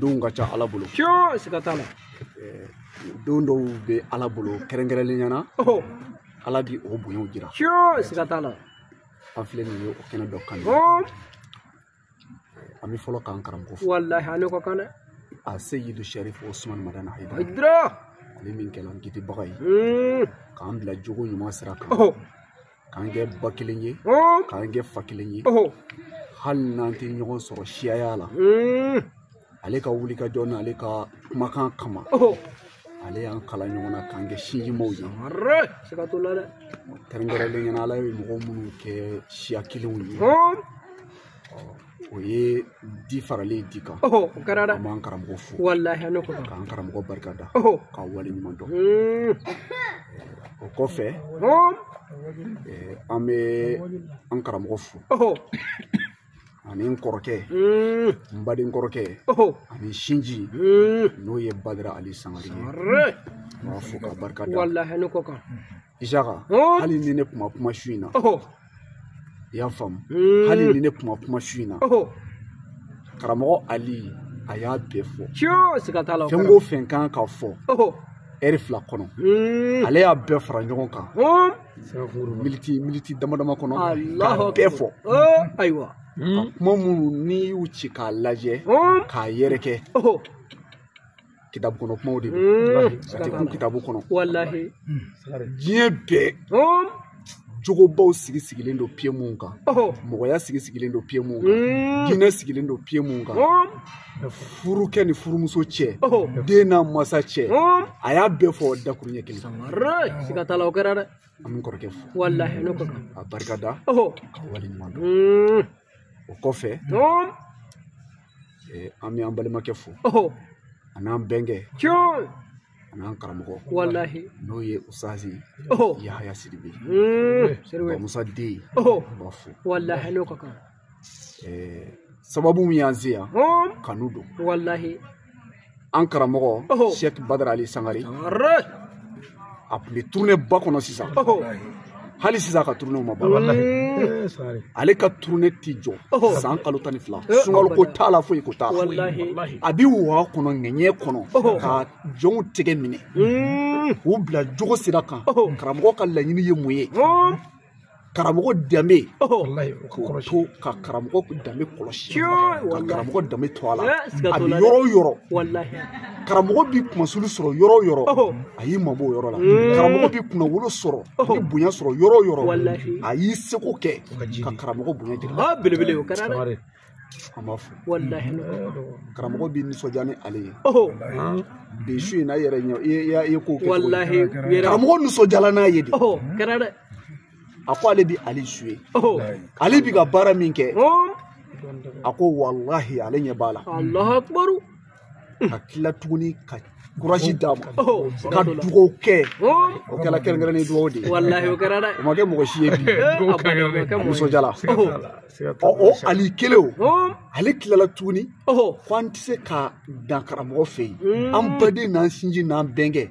S5: don ka ca ala bolo siga t'a la don dɔw bɛ ala bolo kɛrɛnkɛrɛnlenya na ala bi o bonyaw jira siga t'a la
S4: an filɛ nin ye
S5: o kɛnɛ dɔ kan an bɛ fɔlɔ k'an karamɔgɔ fo walahi a n'o ka kan
S4: dɛ aseyidu
S5: sarifu usumani madani hayidara
S4: ale min kɛla
S5: n kisibaga ye k'an bila jogo ɲuman sira kan k'an kɛ ba kelen ye k'an kɛ fa kelen ye hali n'an tɛ ɲɔgɔn sɔrɔ siyaya la hmm. ale ka wulikajɔ n'ale ka kumakan kama ale y'an kala ɲɔgɔn na k'an kɛ sinjimaw
S4: ye kɛrɛnkɛrɛnlenya
S5: na ala ye mɔgɔ minnu kɛ siya kelenw ye o ye di faralen ye di kan o kɛra dɛ an
S4: b'an karamɔgɔ
S5: fo walahi a n'o ka kan
S4: k'an karamɔgɔ barika
S5: da k'a wale ɲuman dɔn hmm. o kɔfɛ eh, an bɛ an karamɔgɔ fo ani n kɔrɔkɛ hmm. n baden kɔrɔkɛ ani sinji hmm. n'o ye badara ali sangare ye n b'a fo k'a barika da walahi a n'o ka kan
S4: Isaka
S5: oh. hali ni ne kun ma kuma su in na oh. i y'a faamu hmm. hali ni ne kun ma kuma su in na oh. karamɔgɔ Ali a y'a bɛɛ fɔ fɛn
S4: o fɛn ka kan ka
S5: fɔ ɛri fila kɔnɔ hmm. ale y'a bɛɛ fara ɲɔgɔn kan hmm. militi militi dama dama kɔnɔ k'a bɛɛ fɔ ayiwa a ka
S4: kuma
S5: minnu n'i y'u ci k'a lajɛ k'a yɛrɛkɛ kitabu kɔnɔ kumaw de don a tɛ kun kitabu
S4: kɔnɔ
S5: diɲɛ bɛɛ jogobaw sigi sigilen don piye mun kan mɔgɔya sigi sigilen don piye mun kan diinɛ sigilen don piye mun kan furukɛ ni furumuso cɛ den n'a masa cɛ a y'a bɛɛ fɔ dakuruɲɛ kelen siga t'a la
S4: o kɛra dɛ an bɛ kɔrɔkɛ fo
S5: walahi a n'o ka kan k'a
S4: barika da
S5: k'a wale ɲuman dɔn o kɔfɛ an bɛ an balimakɛ fo an'an bɛnkɛ an'an karamɔgɔ walahi n'o ye
S4: usazi
S5: yahaya sidibe sidibe musa den n b'a fo walahi a n'o ka kan sababu min y'an se yan kanu don walahi an karamɔgɔ sɛki badara ali sangare a tun bɛ turune ba kɔnɔ sisan hali sisan a ka turune ma ban ale ka turune tɛ jɔ san kalo tan ni fila sunkalo ko t'a la foyi ko t'a la a bɛ waa kɔnɔ ŋɛɲɛ kɔnɔ ka jɔnw tɛgɛ minɛ k'u bila jogo sira kan karamɔgɔ ka laɲini ye mun ye karamɔgɔ danbe k'o to ka karamɔgɔ danbe kɔlɔsi ka karamɔgɔ danbe to a la a bɛ yɔrɔ o yɔrɔ karamɔgɔ bɛ kunmasuli sɔrɔ yɔrɔ o yɔrɔ a y'i mabɔ o yɔrɔ la mm. karamɔgɔ bɛ kunnawolo sɔrɔ a bɛ bonya sɔrɔ yɔrɔ o yɔrɔ a y'i seko kɛ ka karamɔgɔ bonya jira ah, belebele o kɛra dɛ
S4: an b'a
S5: fɔ
S4: walahi
S5: karamɔgɔ b'i nisɔndiya ni ale ye bi su in na i yɛrɛ ɲɛ i ye ko kɛ walahi karamɔgɔ
S4: nisɔndiyala
S5: n'a ye de kɛra
S4: dɛ a ko
S5: ale bi ali suivi ale bi ka baara min kɛ a ko walahi ale ɲɛ b'a la alahu akibaru ka tila tuguni ka kuraji d'a ma ka dugawu kɛ o kɛla kɛrɛnkɛrɛnnen dugawu de ye walahi o kɛra dɛ o ma kɛ
S4: mɔgɔ si ye bi
S5: nisɔndiyala ɔ o ali kelen o ale tilala tuguni ko an tɛ se ka dan karamɔgɔ fɛ yen an baden n'an sinji n'an bɛnkɛ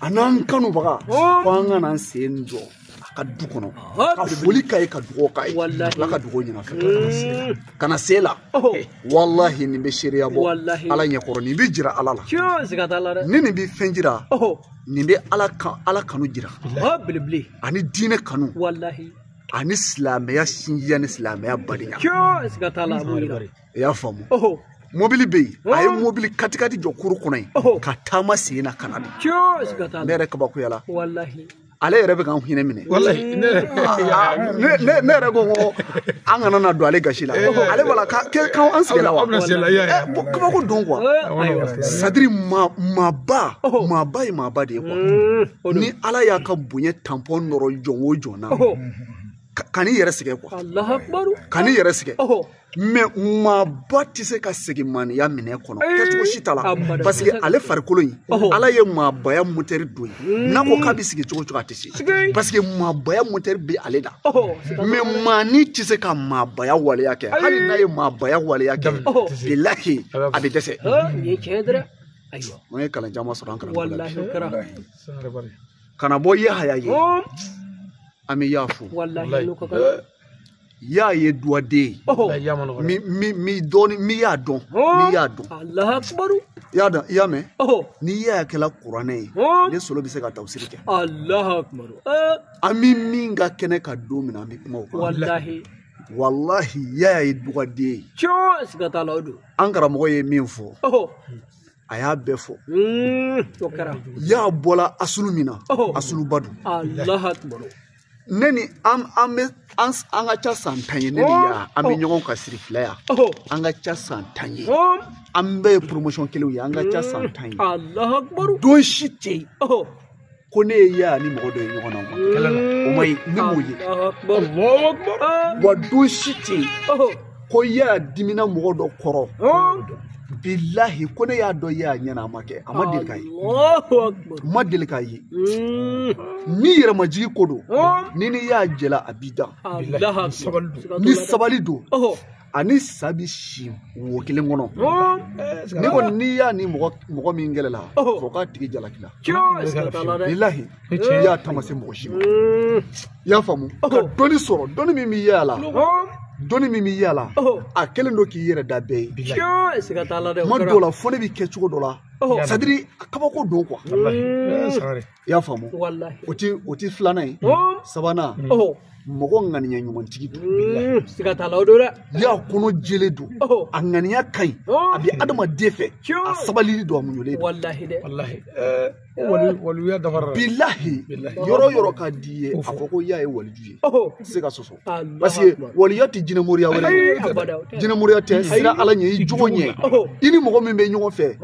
S5: a n'an kanubaga ko an ka n'an sen jɔ a ka du kɔnɔ ka foli k'a ye ka dugawu k'a ye ala ka dugawu ɲɛna fɛ ka na se la walahi nin bɛ seereya bɔ ala ɲɛkɔrɔ nin bɛ jira ala la ni nin bɛ fɛn jira nin bɛ ala kanu jira ani diinɛ kanu ani silamɛya sinjiya ni silamɛya badenya i y'a faamu mobili bɛ yen a ye oh. mobili katikati jɔ kuru kɔnɔ yen oh. ka taama sen na ka na de ne yɛrɛ kabakoyala ale yɛrɛ bɛ k'an hinɛ minɛ ne yɛrɛ ko an kana na don ale gasi la ale b'a la k'an sigila wa kabako don quoi c'est-à-dire maaba maaba ye maaba de ye quoi ni ala y'a ka bonya tanpɔn nɔrɔ jɔn o jɔn na kan'i yɛrɛ sɛgɛn quoi kan'i yɛrɛ sɛgɛn mais maaba tɛ se ka segin maaninya minɛn kɔnɔ kɛcogo si t'a la parce que ale farikolo in ala ye maabaya motɛri don ye hmm. n'a ko k'a bɛ sigi cogo o cogo a tɛ se parce que maabaya motɛri bɛ ale la mais maanin tɛ se ka maabaya waleya kɛ hali n'a ye maabaya waleya kɛ bilahi a bɛ dɛsɛ an ye kalan caman sɔrɔ an karamɔgɔ la ka na bɔ yahaya ye an bɛɛ y'a fo ya ye duwaden ye mi dɔɔni mi y'a dɔn mi y'a dɔn alahakubaru i y'a dɔn i y'a mɛn ni ya kɛla kuranɛ ye ne solo bɛ se ka tafsiri kɛ alahakubaru an bɛ min ka kɛnɛ kan don min na an bɛ kuma o kan walahi walahi ya ye duwaden ye cɔ siga t'a la o don an karamɔgɔ ye min fɔ a y'a bɛɛ fɔ ya bɔla asulu min na asuluba don ne ni an an bɛ an an ka ca san tan ye ne ni ya an bɛ ɲɔgɔn kan sirifila yan an ka ca san tan ye an bɛɛ ye promotion kelenw ye an ka ca san tan ye don si tɛ yen ko ne ye ya ni mɔgɔ dɔ ye ɲɔgɔn na o ma kɛ kɛlɛ la o ma ye ne m'o ye wa don si tɛ yen ko ya dimina mɔgɔ dɔ kɔrɔ bilahi ko ne y'a dɔn y'a ɲɛna a ma kɛ a ma deli ka ye ma deli ka ye ni yɛrɛmajigi ko don n'i ni ya jɛla a b'i dan ni sabali don a ni sa bi si wo kelen kɔnɔ ne kɔni ni ya ni mɔgɔ mɔgɔ min kɛlɛla fɔ k'a tigi jalakila bilahi ya ta ma se mɔgɔ si ma i y'a faamu ka dɔnni sɔrɔ dɔnni min bi ya la dɔnni min bi ya la a kɛlen don k'i yɛrɛ da bɛɛ ye bilahi kuma dɔw la fo ne bɛ kɛ cogo dɔ la c'est à dire kabako don i y'a faamu o ti o ti filanan ye sabanan mɔgɔ ŋaniya ɲumantigi don mm, siga t'a la o don dɛ ya kɔnɔ jɛlen don a ŋaniya ka ɲi a bɛ adamaden fɛ a sabalilen don a muɲulen don walahi dɛ walahi walijuya dafara bilahi yɔrɔ yɔrɔ ka di ye a fɔ ko ya ye waliju ye tɛ se ka sɔsɔ parce que waliya tɛ jinɛmoriya wɛrɛ ye jinɛmoriya tɛ siran ala ɲɛ i jogo ɲɛ i ni mɔgɔ min bɛ ɲɔgɔn fɛ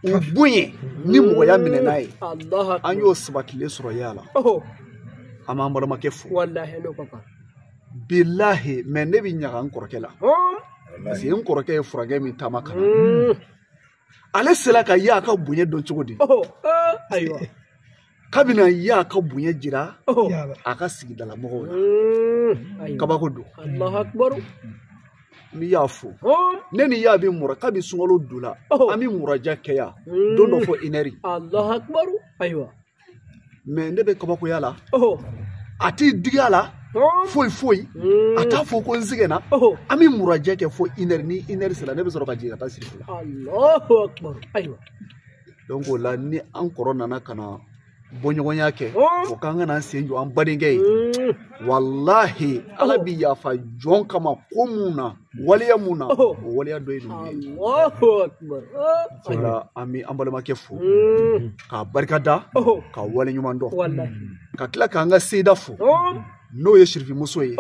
S5: u bonya ni mɔgɔya minɛ n'a ye an y'o sabatilen sɔrɔ ya la an b'an balimakɛ fo bilahi mais ne bɛ ɲaga n kɔrɔkɛ la parce que n kɔrɔkɛ ye furancɛ min taama ka na ale sera ka ya ka bonya dɔn cogo di ayiwa k'a bi na ya ka bonya jira a ka sigidala mɔgɔw la mm. kabako don ne ni ya fo ne ni ya bɛ mura kabi sunkalo donna an bɛ muraja kɛ yan mm. don dɔ fo une heure ayiwa mais ne bɛ kabakoya la a ti digi a la foyi foyi mm. a t'a fɔ ko n sɛgɛnna an bɛ muraja kɛ fo une heure ni une heure sera ne bɛ sɔrɔ ka jigin ka taa sirifila donc o la ni an kɔrɔ nana ka na bɔɲɔgɔnya kɛ o k'an ka na sen jɔ an badenkɛ ye walahi ala bi yafa jɔn kama ko mun na waleya mun na o waleya dɔ ye ninnu ye o la an bɛ an balimakɛ fo k'a barika da ka wale ɲuman dɔn ka tila k'an ka seyida fo n'o ye sirifimuso ye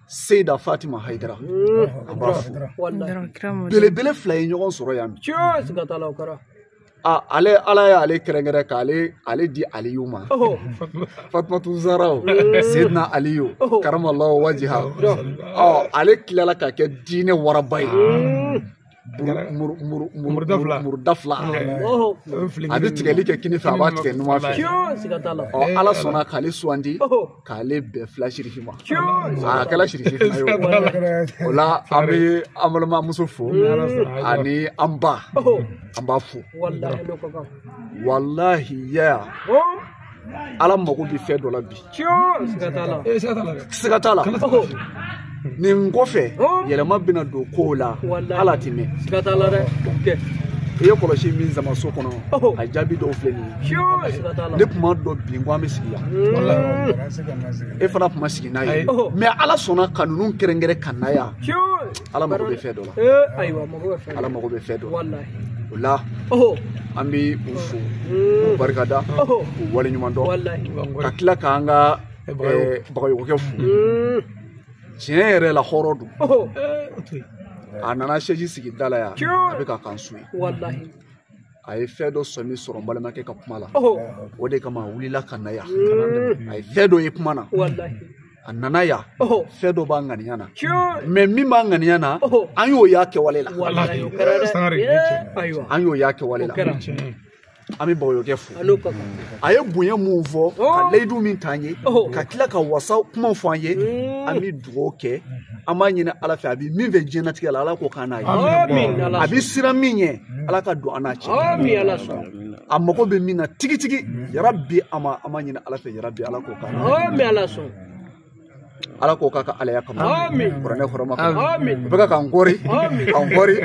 S5: seyida fatima hayidara an b'a fo belebele fila ye ɲɔgɔn sɔrɔ yan bi aa ale ala y'ale kɛrɛnkɛrɛn k'ale di aliyu ma fatumatu zahra seyidina aliyu karamalahu wajiha ɔ ale tilala ka kɛ diinɛ waraba ye muru da fila a bɛ tigɛli kɛ kinin fɛ a b'a tigɛ numan fɛ ɔ ala sɔnna k'ale sugandi k'ale bɛɛ fila sirifi ma a kɛra sirifi fila ye o la an bɛ an balimamuso fo ani an ba an b'a fo walahi ya ala mago bɛ fɛn dɔ la bi siga t'a la nin kɔfɛ yɛlɛma bɛna don kow la ala tɛ mɛn siga t'a la dɛ i ye kɔlɔsi min sama so kɔnɔ a jaabi dɔw filɛ nin ye ne tun m'a dɔn bilen ko an bɛ sigi yan e fana tun ma sigi n'a ye mɛ ala sɔnna ka ninnu kɛrɛnkɛrɛn ka na yan ala mago bɛ fɛn dɔ la ala mago bɛ fɛn dɔ la o la an bɛ u fo k'u barikada k'u waleɲuman dɔn ka tila k'an ka bagayɔgɔkɛ fo tiɲɛ yɛrɛ la hɔrɔn don a nana sɛji sigi da la yan a bɛ ka kan su ye a ye fɛn dɔ sɔmi sɔrɔ n balimakɛ ka kuma la o de kama a wulila ka na yan a ye fɛn dɔ ye kuma na a nana yan fɛn dɔ b'a ŋaniya na mɛ min b'a ŋaniya na an y'o y'a kɛwale la an y'o y'a kɛwale la an bɛ bagayɔgɔkɛ fo a ye bonya min fɔ oh. ka layidu min t'an ye oh. ka tila ka wasa kuma fɔ an ye mm. an bɛ dugawu kɛ an b'a ɲini ala fɛ a bɛ min fɛ diɲɛnatigɛ la ala k'o k'an n'a ye a bɛ siran min ɲɛ ala ka don an n'a cɛ a mago bɛ min na tigitigi yarabi a ma an b'a ɲini ala fɛ yarabi ala k'o k'an n'a ala k'o k'a ka alaya kama kuranɛ hɔrɔma kama u bɛ ka k'an kɔri k'an kɔri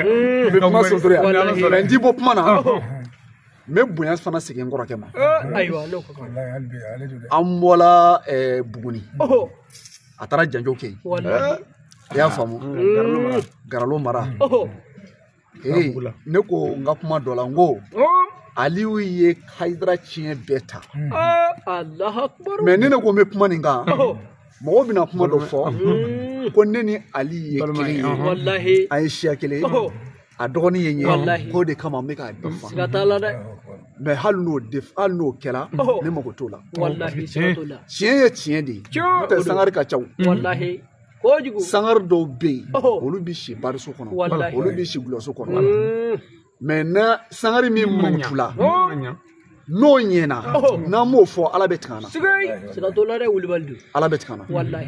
S5: u bɛ kuma sotori yan mɛ n ti bɔ kuma na n bɛ bonya fana segin n kɔrɔkɛ ma an bɔla buguni a taara janjo kɛ yen i y'a faamu garalo mara ee ne ko n ka kuma dɔ la n ko aliyu ye hayidara tiɲɛ bɛɛ ta mais ne ne ko n bɛ kuma nin kan mɔgɔw bɛna kuma dɔ fɔ ko ne ni ali ye kelen ye an ye siya kelen a dɔgɔnin ye n ye k'o de kama n bɛ k'a bɛɛ fa siga t'a la dɛ mais hali n'o de hali n'o kɛra ne mago t'o la tiɲɛ ye tiɲɛ de ye n'o tɛ sangare ka ca o kojugu sangare dɔw bɛ yen olu bɛ si bariso kɔnɔ olu bɛ si dɔlɔso kɔnɔ mais na sangare min mankutu la n'o ɲɛna n'an m'o fɔ ala bɛ tigɛ an na siga t'o la dɛ wulibali don ala bɛ tigɛ an na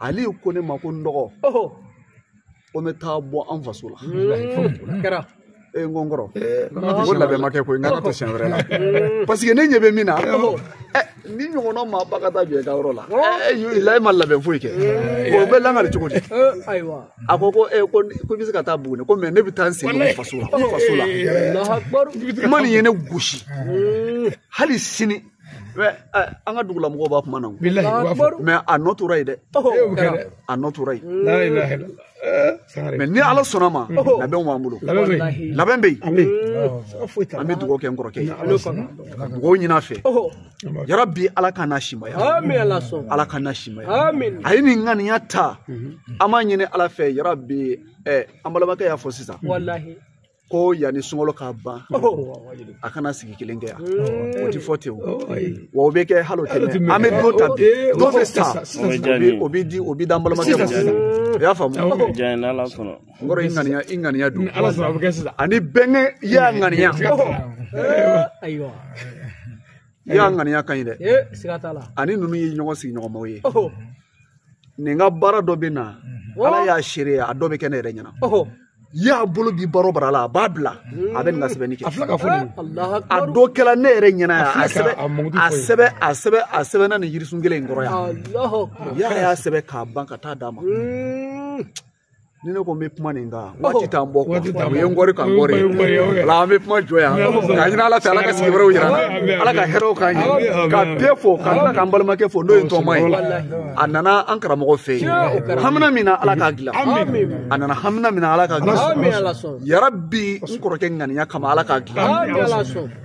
S5: ale ko ne ma ko n dɔgɔ ko n bɛ taa bɔ an faso la kɛra e n ko n kɔrɔ ko labɛn ma kɛ koyi n k'a to siɲɛ wɛrɛ la parce que ne ɲɛ bɛ min na nin ɲɔgɔnna maaba ka taa jɔ i ka yɔrɔ la la e ma labɛn foyi kɛ o bɛ lakali cogo di a ko ko e ko i bɛ se ka taa buguni ko mais ne bɛ taa n sen don faso la faso la kuma nin ye ne gosi hali sini an ka dugula mɔgɔw b'a kuma na mais a nɔ tora yen dɛ a nɔ tora yen mais ni ala sɔnn'a ma labɛnw b'an bolo labɛn bɛ yen an bɛ dugawu kɛ n kɔrɔkɛ ye ka dugawu ɲin'a fɛ yarabi ala ka n'a simaya ala ka n'a simaya a ye nin ŋaniya ta an b'a ɲini ala fɛ yarabi an balimakɛ y'a fɔ sisan ko yanni sunkalo ka ban a kana sigi kelen kɛ yan o ti fɔ ten o wa o bɛ kɛ hali o tɛ mɛɛn an bɛ don ta bi don bɛ ta o bɛ di o bɛ d'an balimakɛ ma sisan i y'a faamu n kɔrɔ i ŋaniya i ŋaniya don ani bɛnkɛ i y'a ŋaniya ayiwa i y'a ŋaniya ka ɲi dɛ siga t'a la ani ninnu ye ɲɔgɔn sigiɲɔgɔnmaw ye nin ka baara dɔ bɛ na ala y'a seere ye a dɔ bɛ kɛ ne yɛrɛ ɲɛna yan a bolo bi baara baara la a b'a bila a bɛ nin ka sɛbɛnni kɛ a filɛ ka fɔ nin a dɔ kɛra ne yɛrɛ ɲɛna yan a sɛbɛn a sɛbɛn a sɛbɛn a sɛbɛnna nin yirisun kelen in kɔrɔ yan y'a y'a sɛbɛn k'a ban ka taa d'a ma ni ne ko n bɛ kuma nin kan waati t'an bɔ quoi u ye n kɔri ka n kɔri ala an bɛ kuma jɔ yan k'a ɲini ala fɛ ala ka sigi wɛrɛw jira an na ala ka hɛrɛw k'an ye ka bɛɛ fo ka tila k'an balimakɛ fo n'o ye tɔma ye a nana an karamɔgɔ fɛ yen hamina min na ala k'a dilan a nana hamina min na ala k'a dilan yarabi n kɔrɔkɛ ŋaniya kama ala k'a dilan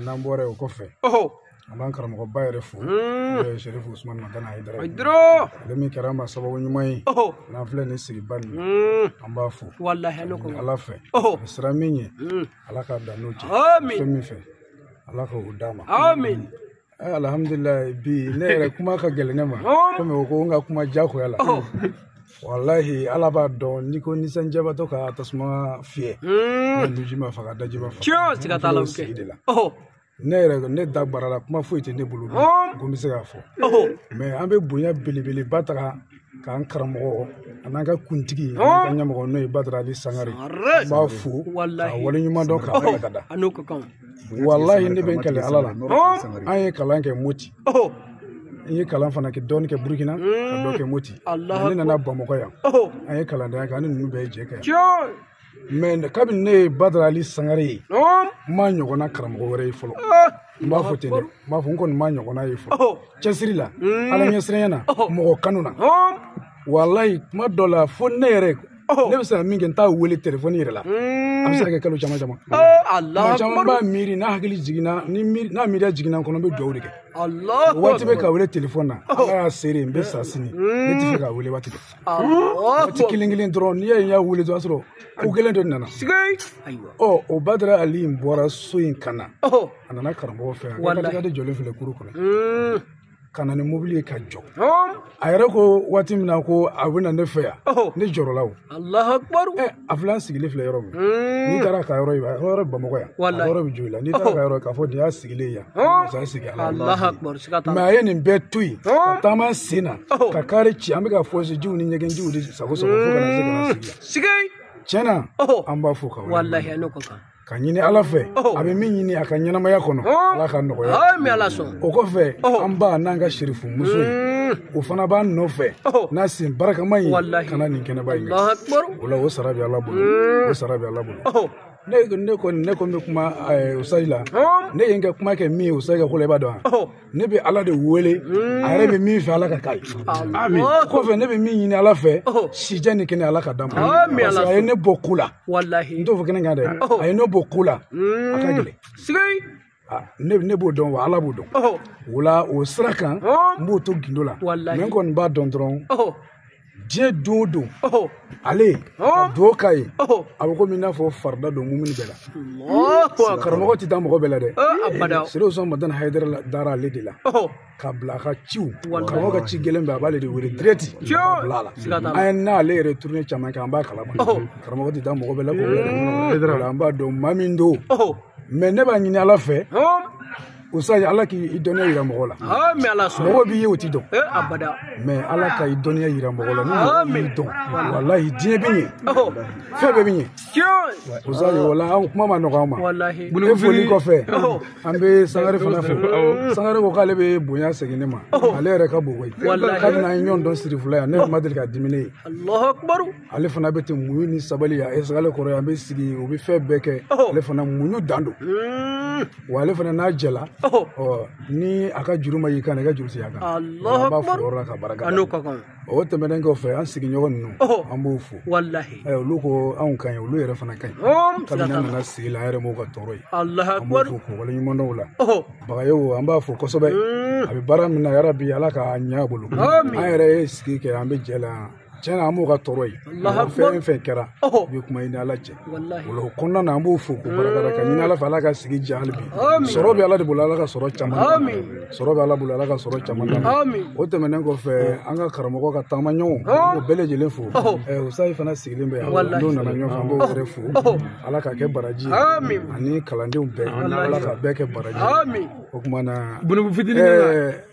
S5: n'an bɔra yen o kɔfɛ an
S3: b'an karamɔgɔba yɛrɛ fo n'o ye sɛrifu usumani madani hayidara ye ale min kɛra an ma sababu ɲuman ye n'an filɛ nin sigiba nin an b'a fo ni ala fɛ a bɛ siran min ɲɛ ala k'a dan n'o cɛ fɛn min fɛ ala k'o d'a ma alhamdulilayi bi ne yɛrɛ kuma ka gɛlɛn ne ma komi o ko n ka kuma jagoya la walahi ala b'a dɔn n'i ko nisɔndiyabatɔ ka tasuma fiyɛ nuji m'a faga daji ma faga siga t'a la sigi de la ne yɛrɛ ne da barala kuma foyi tɛ ne bolo ko n bɛ se k'a fɔ mais an bɛ bonya belebeleba ta k'an karamɔgɔ an'an ka kuntigi an'an ka ɲɛmɔgɔ n'o ye badara ali sangare an b'a fo k'a waleɲuman dɔn k'a barika da walayi ne bɛ n kali ala la an ye kalan kɛ moti n ye kalan fana kɛ dɔɔni kɛ burukina ka dɔ kɛ moti ne nana bamakɔ yan an ye kalandenya kɛ an ni ninnu bɛɛ ye jɛ kɛ mais kabini ne ye badara ali sangare ye n m'a ɲɔgɔnna karamɔgɔ wɛrɛ ye fɔlɔ ah! n b'a fɔ ten dɛ n b'a fɔ n kɔni m'a ɲɔgɔnna ye fɔlɔ oh! cɛsiri la hmm. ala ɲɛsiranya na oh! mɔgɔ kanu na walayi kuma dɔ la fo ne yɛrɛ oh! ne bɛ se ka min kɛ n t'a wele telefɔni yɛrɛ la hmm. a bɛ se ka kɛ kalo caman caman tuma caman n b'a miiri n'a hakili jiginna n'a miiriya jiginna n kɔnɔ n bɛ dugawu de kɛ waati bɛɛ k'a wele telefɔni na ala y'a seere n bɛ sa sini ne t'a fɛ k'a wele waati bɛɛ waati kelen kelen dɔrɔn n'i y'a ye n y'a wele dɔrɔn a sɔrɔ ko gɛlɛn dɔ nana ɔ o badara ali in bɔra so in ka na a nana karamɔgɔ fɛ yan de jɔlen filɛ kuru kɔnɔ ka na ni mobili ye ka jɔ a yɛrɛ ko waati min na ko a bɛ na ne fɛ yan ne jɔrɔla o a filɛ an sigilen filɛ yɔrɔ min n'i taara ka yɔrɔ yɔrɔ yɔrɔ bamakɔ yan a yɔrɔ bɛ jɔ i la n'i taara ka yɔrɔ k'a fɔ nin y'a sigilen yan masa sigi a la mais a ye nin bɛɛ to yen ka taama sen na ka kari ci an bɛ ka fɔsi jiw ni ɲɛgɛn jiw de sagon sagon fo ka na se ka na sigi yan tiɲɛ na an b'a fo ka walahi n'o ko kan ka ɲini ala fɛ a bɛ min ɲini a ka ɲɛnamaya kɔnɔ ala k'a nɔgɔya o kɔfɛ an ba n'an ka sirifu muso mm. o fana b'an nɔfɛ n'a sen barakama ye ka na nin kɛnɛba ye o la o sara bɛ ala bolo mm. o sara bɛ ala bolo ne ne kɔni ne kɔni bɛ kuma usayi la ne ye n ka kuma kɛ min ye usayi ka ko la i b'a dɔn wa ne bɛ ala de wele a yɛrɛ bɛ min fɛ ala k'a k'a ye kɔfɛ ne bɛ min ɲini ala fɛ sijan ni kɛnɛ ala k'a d'a ma parce que a ye ne bɔ ko la n t'o fɔ kɛnɛ kan dɛ a ye ne bɔ ko la a ka gɛlɛn ne ne b'o dɔn wa ala b'o dɔn o la o sira kan n b'o to gindo la mais n kɔni b'a dɔn dɔrɔn diɲɛ don o don ale ka duwawu k'a ye a bɛ komi i n'a fɔ farida don mumuni bɛɛ la karamɔgɔ tɛ da mɔgɔ bɛɛ la dɛ sirifu usumani madani hayidara dara ale de la k'a bila a ka ciw karamɔgɔ ka ci gɛlɛn bɛɛ a b'ale de wele direct k'a bila a la an ye n'ale yɛrɛ tournée caman kɛ an b'a kalama karamɔgɔ tɛ da mɔgɔ bɛɛ la k'o bila an b'a dɔn maa min don mais ne b'a ɲini ala fɛ usayi ala k'i dɔnniya yira mɔgɔ la mɔgɔ b'i ye o t'i dɔn mais ala ka i dɔnniya yira mɔgɔ la ni mɔgɔ b'i dɔn walahi diɲɛ bɛ ɲɛ fɛn bɛɛ bɛ ɲɛ usayi wala an kuma ma nɔgɔ an ma e foli kɔfɛ an bɛ sangare fana fo sangare ko k'ale bɛ bonya segin ne ma ale yɛrɛ ka bon koyi kabini an ye ɲɔgɔn dɔn sirifula yan ne ma deli k'a diminen ye ale fana bɛ ten muɲu ni sabali yan ale kɔrɔ an bɛ sigi u bɛ fɛn bɛɛ kɛ ale fana muɲu dan don wa ale fana n'a jɛla ɔ ni a ka juru ma y'i kan i ka juru sigi a kan an b'a fo yɔrɔ la ka barika da o tɛmɛnen kɔfɛ an sigiɲɔgɔn ninnu an b'u fo olu ko anw ka ɲi olu yɛrɛ fana ka ɲi kabini an nana sigi la an yɛrɛ m'o ka tɔɔrɔ ye an b'u fo k'u waleɲuman dɔn o la bagayogo an b'a fo kosɛbɛ a bɛ baara min na yarabi ala k'a ɲɛ a bolo an yɛrɛ ye sigi kɛ an bɛ jɛ la tiɲɛ na an b'o ka tɔɔrɔ ye fɛn fɛn kɛra i bɛ kuma i ni ala cɛ o kɔnɔna na an b'o fo k'o barika da ka ɲini ala fɛ ala ka sigi diya hali bi sɔrɔ bɛ ala de bolo ala ka sɔrɔ caman sɔrɔ bɛ ala bolo ala ka sɔrɔ caman o tɛmɛnen kɔfɛ an ka karamɔgɔ ka taama ɲɔgɔn o bɛɛ lajɛlen fo usayi fana sigilen bɛ yan n'o nana ɲɔgɔn fɛ an b'o yɛrɛ fo ala ka kɛ baraji ani kalandenw bɛɛ ala ka bɛɛ kɛ baraji o tuma na fitinin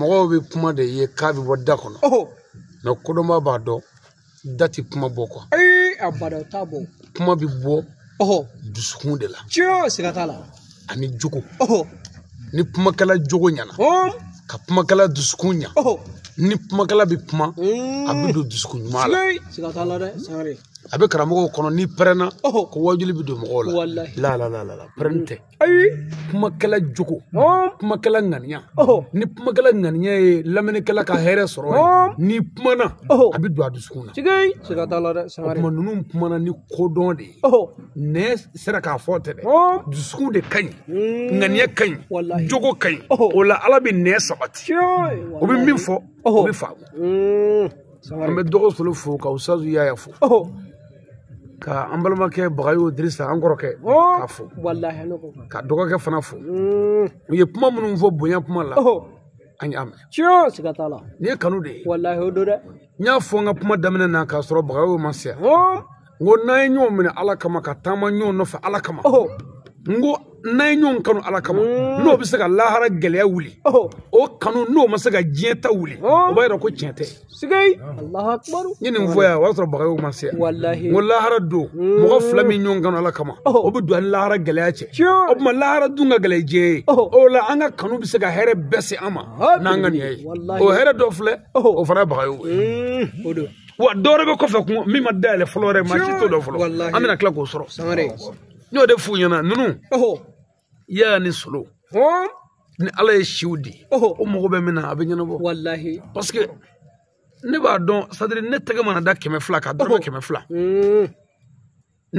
S3: mɔgɔw bɛ kuma de ye k'a bɛ bɔ da kɔnɔ mais kodɔnba b'a dɔn da tɛ kuma bɔ quoi abada o t'a bɔ kuma bɛ bɔ dusukun de la tiɲɛ siga t'a la ani jogo ni kumakɛla jogo ɲɛna ka kumakɛla dusukun ɲa ni kumakɛla bɛ kuma mm. a bɛ don dusukun ɲuman la siga t'a la dɛ sangare a bɛ karamɔgɔw kɔnɔ n'i pɛrɛnna ko waajuli bɛ don mɔgɔw la la la la la pɛrɛn tɛ ayi kumakɛla jogo kumakɛla ŋaniya ni kumakɛla ŋaniya ye lamɛnnikɛla ka hɛrɛ sɔrɔ ni kumana a bɛ don a dusukun na siga t'a la dɛ o tuma ninnu kumana ni kodɔn de ye nɛn sera k'a fɔ tɛ dɛ dusukun de ka ɲi hmm. ŋaniya ka ɲi jogo ka ɲi o la ala bɛ nɛn sabati o bɛ min fɔ o bɛ faamu hmm. an bɛ dɔgɔ solo fo ka usutazu yaya fo ka an balimakɛ bagayo dirisa an kɔrɔkɛ k'a fo ka dɔgɔkɛ fana fo mm. u ye kuma minnu fɔ bonya kuma la an y'a mɛn tiɲɛ siga t'a la nin ye kanu de ye walahi o don dɛ n y'a fɔ n ka kuma daminɛ na k'a sɔrɔ bagayo ma se yan n ko n'an ye ɲɔgɔn minɛ ala kama ka taama ɲɔgɔn nɔfɛ ala kama n ko n'an ye ɲɔgɔn kanu ala kama mm. n'o bɛ se ka lahara gɛlɛya wuli o kanu n'o ma se ka diɲɛ ta wuli o b'a yira ko tiɲɛ tɛ sigei allahu akbar n ye nin fɔ yan o y'a sɔrɔ bagayogo ma se yan walahi n ko lahara don mɔgɔ fila min ɲɔgɔn kanu ala kama o bɛ don a ni lahara gɛlɛya cɛ o tuma lahara dun ka gɛlɛn diɲɛ ye o la an ka kanu bɛ se ka hɛrɛ bɛɛ se an ma n'an ka nin ye o hɛrɛ dɔ filɛ o fana ye bagayogo ye o don wa dɔwɛrɛ bɛ kɔfɛ kun min ma dayɛlɛ fɔlɔ yɛrɛ maa si t'o dɔn fɔlɔ an bɛna tila k'o sɔrɔ n y'o de f'u ɲɛna ninnu i y'a ni solo hɔn ni ala ye siw di ɔhɔ o mago bɛ min na a bɛ ɲɛnabɔ walahi parce que ne b'a dɔn sadiri ne tɛgɛ mana da kɛmɛ fila ka dɔrɔmɛ kɛmɛ fila Mm,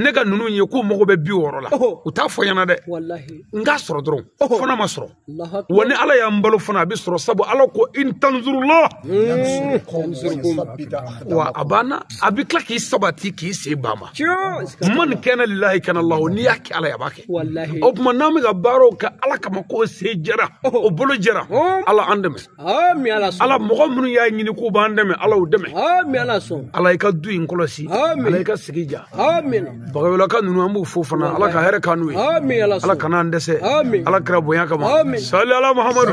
S3: ne ka ninnu ye k'u mago bɛ bi wɔɔrɔ la ɔhɔ u t'a fɔ n ɲɛna dɛ walahi n k'a sɔrɔ dɔrɔn Ɔhɔ. fana ma sɔrɔ Allahu akbar. wa ni ala y'an balo fana a bɛ sɔrɔ sabu ala ko in tanzurula wa a banna a bɛ tila k'i sabati k'i sen bamban Tiɲɛ. man kana lilahi kana lahu n'i y'a kɛ ala ye a b'a kɛ walahi o tuma n'an bɛ ka baaraw kɛ ala kama k'o sen jɛra o bolo jɛra ala an dɛmɛ ami ala sɔn ala mɔgɔ minnu y'a ɲini k'u b'an dɛmɛ ala y'u dɛmɛ ami ala sɔn ala i ka du in kɔlɔsi ala i ka sigi diya ami bagayɔlaka ninnu an b'u fo fana ala ka hɛrɛ k'an n'u ye ami ala sɔn ala kana an dɛsɛ ala kira bonya kama sali ala muhamadu